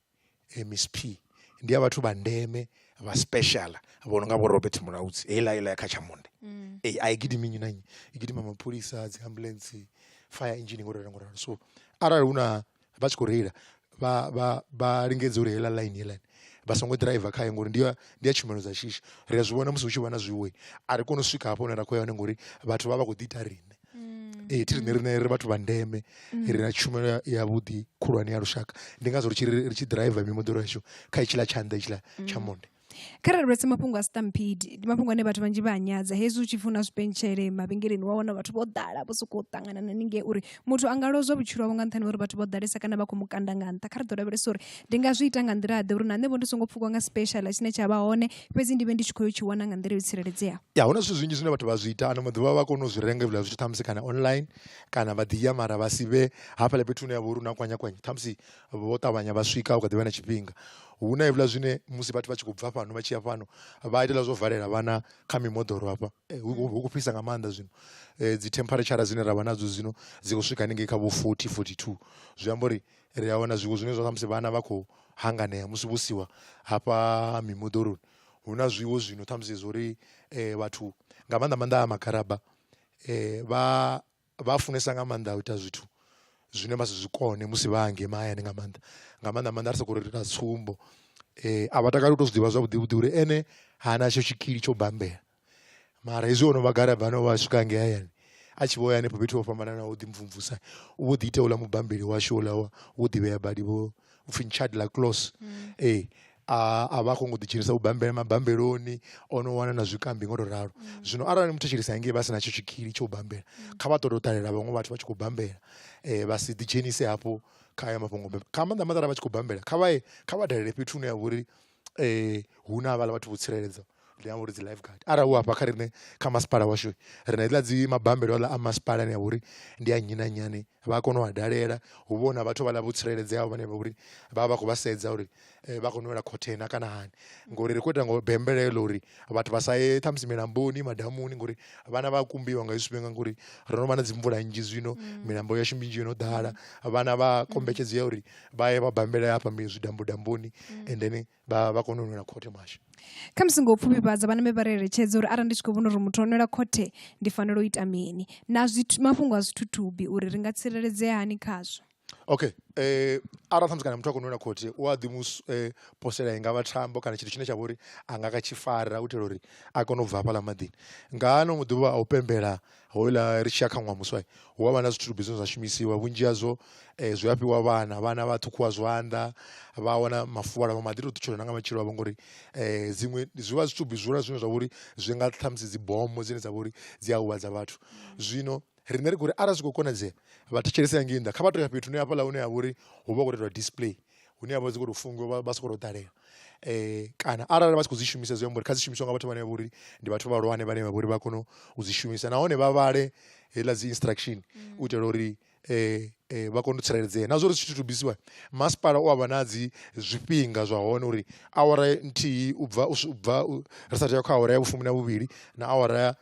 eh, miss p ndi ya vhathu vha ndeme vha special vho no nga vho robert mulaudzi heiḽa heiḽa ya kha tshamonde mm. eh, a i gidimi nnyi na nnyi i gidima mapholisa dzi ambulance fire engine ngoralo ngoralo so arali hu na vha tshi khou reila vha vha vha lingedze uri heiḽa ḽaini heiḽani vha songo ḓiraiva khayo ngori ndi ya ndi ya tshumelo dza shishi ri a zwi vhona musi hu tshi vha na zwiwe a ri koni u swika hafho hune ra khou ya hone ngori vhathu vha vha khou ḓi ita riṋe mm. ee thi riṋe riṋe ri vhathu vha ndeme mm. ri na tshumelo yavhuḓi khulwane ya lushaka ndi ngazwo ri tshi ri tshi ḓiraiva mimoḓoro yashu kha itshiḽa tshanḓa itshiḽa tsha mm. monde Kharali ra sedza mafhungo a siṱampidi ndi mafhungo ane vhathu vhanzhi vha a nyadza hezwi u tshi pfhi hu na zwipentshele mavhengeleni wa wana vhathu vho ḓala vho sokou ṱangana na haningei uri muthu a nga lozwa vhutshilo hawe nga nṱhani ha uri vhathu vho ḓalesa kana vha khou mu kanda nga nṱha kha ri ḓo lavhelesa uri ndi nga zwi ita nga nḓila ḓe uri na nṋe vho ndi songo pfhukwa nga special tshine tsha vha hone fhedzi ndi vhe ndi tshi khou yo tshi wana nga nḓila yo tsireledzeaho ya hu na zwithu zwinzhi zwine vhathu vha zwi ita ano maḓuvha vha kona u zwi renga hezwiḽa zwithu ṱhamusi kana online kana vha ḓi ya mara vha si vhe hafhaḽa fhethu hune ya vha uri hu na kwanyakwanya ṱhamusi vho ṱavhanya vha swika hu kha ḓivha na tshifhinga hu na hevhuḽa zwine musi vhathu vha tshi khou bva fhano vha tshi ya fhano vha itela zwo valela vhana kha mimoḓoro hafha eh, hu khou fhisa nga maanḓa zwino eh, dzi temperature dzine ra vha nadzo zwino dzi khou swika haningei kha vho 40 42 zwi amba uri ri a wana zwiwo zwine zwa musi vhana vha khou hanganea musi vho siwa hafha mimoḓoroni hu na zwiwo zwino ṱhamusi zwo uri eh, vhathu nga maanḓa maanḓa a magaraba eh, vha vha funesa nga maanḓa u ita zwithu zwine vha si zwikone musi vha hangei mahayani nga maanḓa nga maanḓa maanḓa ri soko ri na tsumbo a vha takali u to zwiḓivha zwavhuḓi vhuḓi uri ene ha na tsho tshikili tsho bambela mara hezwi ono vha garaba no vha swika hangei hayani a tshi vho ya henefho fhethu ho fhambananaho ḓi mvumvusa u vho ḓi ita uḽa mubambeli washu uḽa wo ḓivhea badi vho upfhi nchad la close mm. ee eh, a a vha khou ngo ḓidzhenisa vhubambela mabambeloni o no wana na zwikambi ngo to ralo mm. zwino arali muthu tshilisa hangei vha si na tsho tshikili tsho u bambela mm. kha vha ṱoḓa u ṱalela vhaṅwe vhathu vha tshi khou bambela um vha si ḓidzhenise hafho kha ya mafhungo kha maanḓa maḓara vha tshi khou bambela kha vha kha vha dalele fhethu hune ya vha uri huna havhaḽa vhathu vho tsireledza ndi amba uri dzi life guard arali u hafha kha riṋe kha masipala washu ri na hedziḽa dzi mabambelo aḽa a masipala ane avha uri ndi a nnyi na nnyi ane vha a kona u a dalela hu vha hu na vhathu vhaḽa vho tsireledzeaho vhane vha vhori vha vha vha khou vha sedza uri vha khou nwela khothe na kana hani ngori ri khou ita ngo bembela heḽo uri vhathu vha sa ye ṱhamusi milamboni madamuni ngori vhana vha kumbiwa nga zwifhinga ngori ro no vha na dzimvula nnzhi zwino mm. milambo yashu minzhi yo no ḓala mm. vhana vha mm. kombetshedzea uri vha ye vha bambele hafha zwidambudamboni and then vha vha kone u nwela khothe mashu kha musi ngo pfufhifhadza vhana me vha ri eletshedza uri arali ndi tshi khou vhona uri muthu o nwela khothe ndi fanela u ita mini na mafhungo a zwithuthubi uri ri nga tsireledzea hani khazwo Okay arali ṱhamusi kana muthu a kho nwela khothi u a ḓi mu posela i ngavha thambo kana tshithu tshine tsha vha uri a nga kha tshi fara u itela uri a kone u bva hafhaḽa maḓini, nga ano maḓuvha a u pembela houḽa ri tshi ya kha ṅwaha muswa hu avha na zwithu zwine zwa shumisiwa vhunzhi hazwo zwi a fhiwa vhana vhana vha ṱhukhuwa zwanḓa vha wana mafuvhalo vha mbo ḓi to ṱutshela nanga matshilo avho ngori dziṅwe zwi vha zwithu zwi hula zwine zwa vha uri zwi nga ṱhamusi dzi bomo dzine dza vha uri dzi a huvhadza vhathu zwino riṋe ri khou ri arali zwi khou konadzea vha thetshelese hangei nnḓa kha vha to ya fhethu hune hafhaḽa hune ha vha uri hu vha hu khou tou itwa display hune ha vha dzi khou tou fungiwa vha sokou tou ṱalela um kana arali vha tshi khou dzi shumisa zwi amba uri kha dzi shumiswa nga vhathu vhane vha vha uri ndi vhathu vhahulwane vhane vha vha uri vha kone u dzi shumisa nahone vha vhale heiḽa dzi instruction u itela uri um vha kone u tsireledzea na zwa uri zwithu to bisiwa masipala u a vha na dzi zwifhinga zwa hone uri awara nthihi u bva u bva ri sa tea kha awara ya vhufumi na vhuvhili na awara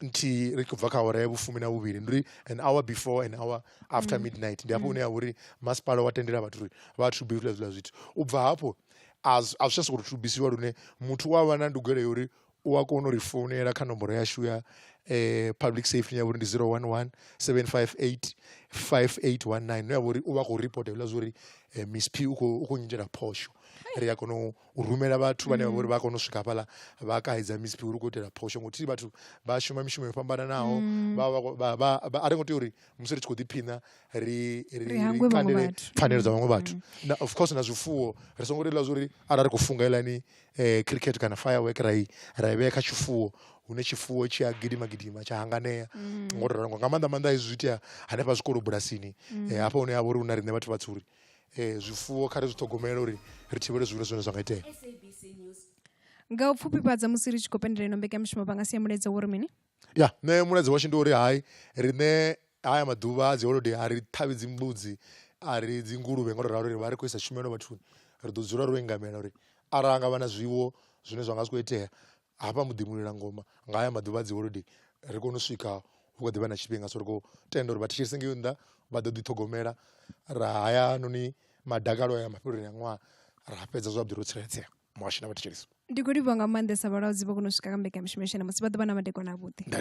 nthihi ri khou bva kha awara ya vhufumi na vhuvhili ndi uri an hour before an hour after mm. midnight ndi hafho mm. hune ya uri masipala wa tendela vhathu uri vha thube zwiḽa zwiḽa zwithu u bva hafho a zwi tsha sokou thubisiwa lune muthu u a vha na ndugelo ya uri u a kona u ri founela kha nomboro yashu ya eh, public safety ya vhori ndi 011 758 5819 no ya vhori u vha khou reporta hezwiḽa zwa uri eh, miss p u khou nyitela phosho ri a kona u rumela vhathu vhane vha vhori vha kona u swika hafhaḽa vha kaidza miziphi uri u khou itela phosho ngo thihi vhathu vha shuma mishumo yo fhambananaho a ri ngo tea uri musi ri tshi khou ḓiphina ri ri kandele pfhanelo dza vhaṅwe vhathu na of course na zwifuwo ri songo ri ḽa zwa uri arali ri khou funga elani um cricket kana firework ra i ra i vhea kha tshifuwo hune tshifuwo tshi a gidima gidima tsha hanganea mm. ngo ralo nga maanḓa maanḓa hezwi zwi itea hanefha zwikolo bulasini mm. eh, hafha hune ha vha uri hu na riṋe vhathu vhatsuri zwifuwo kha ri zwi ṱhogomele uri ri thivhele zwihulu zwine zwa nga itea nga u pfufhifhadza musi ri tshi khou pendelela ino mbekanyamushumo vha nga sia mulaedza wo ri mini ya nṋe mulaedza washu ndi uri hai riṋe haya maḓuvha a dzi holodei a ri ṱhavhi dzimbudzi a ri dzi nguluvhe nga uri ralo ri vha ri khou isa tshumelo vhathuni ri ḓo dzula ro engamela uri arali ha nga vha na zwiwo zwine zwa nga zwi khou itea hafha muḓiimulela ngoma nga haya maḓuvha a dzi holodei ri kone u swika hu kha ḓivha na tshifhinga so ri khou tenda uri vha thetshelese ngei nnḓa vha ḓo ḓi ṱhogomela ra haya noni madakalo a ya mafheleloni a ṅwaha ra fhedza zwavhuḓi ro tsireledzea muhasho na vha thetshelesi ndi khou livhuwa nga maanḓesa vhalaudzi vho kona u swika kha mbekanyamushumo ya shona musi vha ḓo vha na madekwana a vhuḓi nda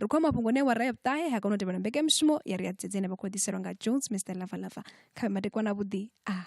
ri khou mafhungo ne wa raya vhuṱahe ha kona u tevhela mbekanyamushumo ya ri ya dzedzi ine vha khou ḓiselwa nga jones mr lava lava kha vhe madekwana vhuḓi a ah.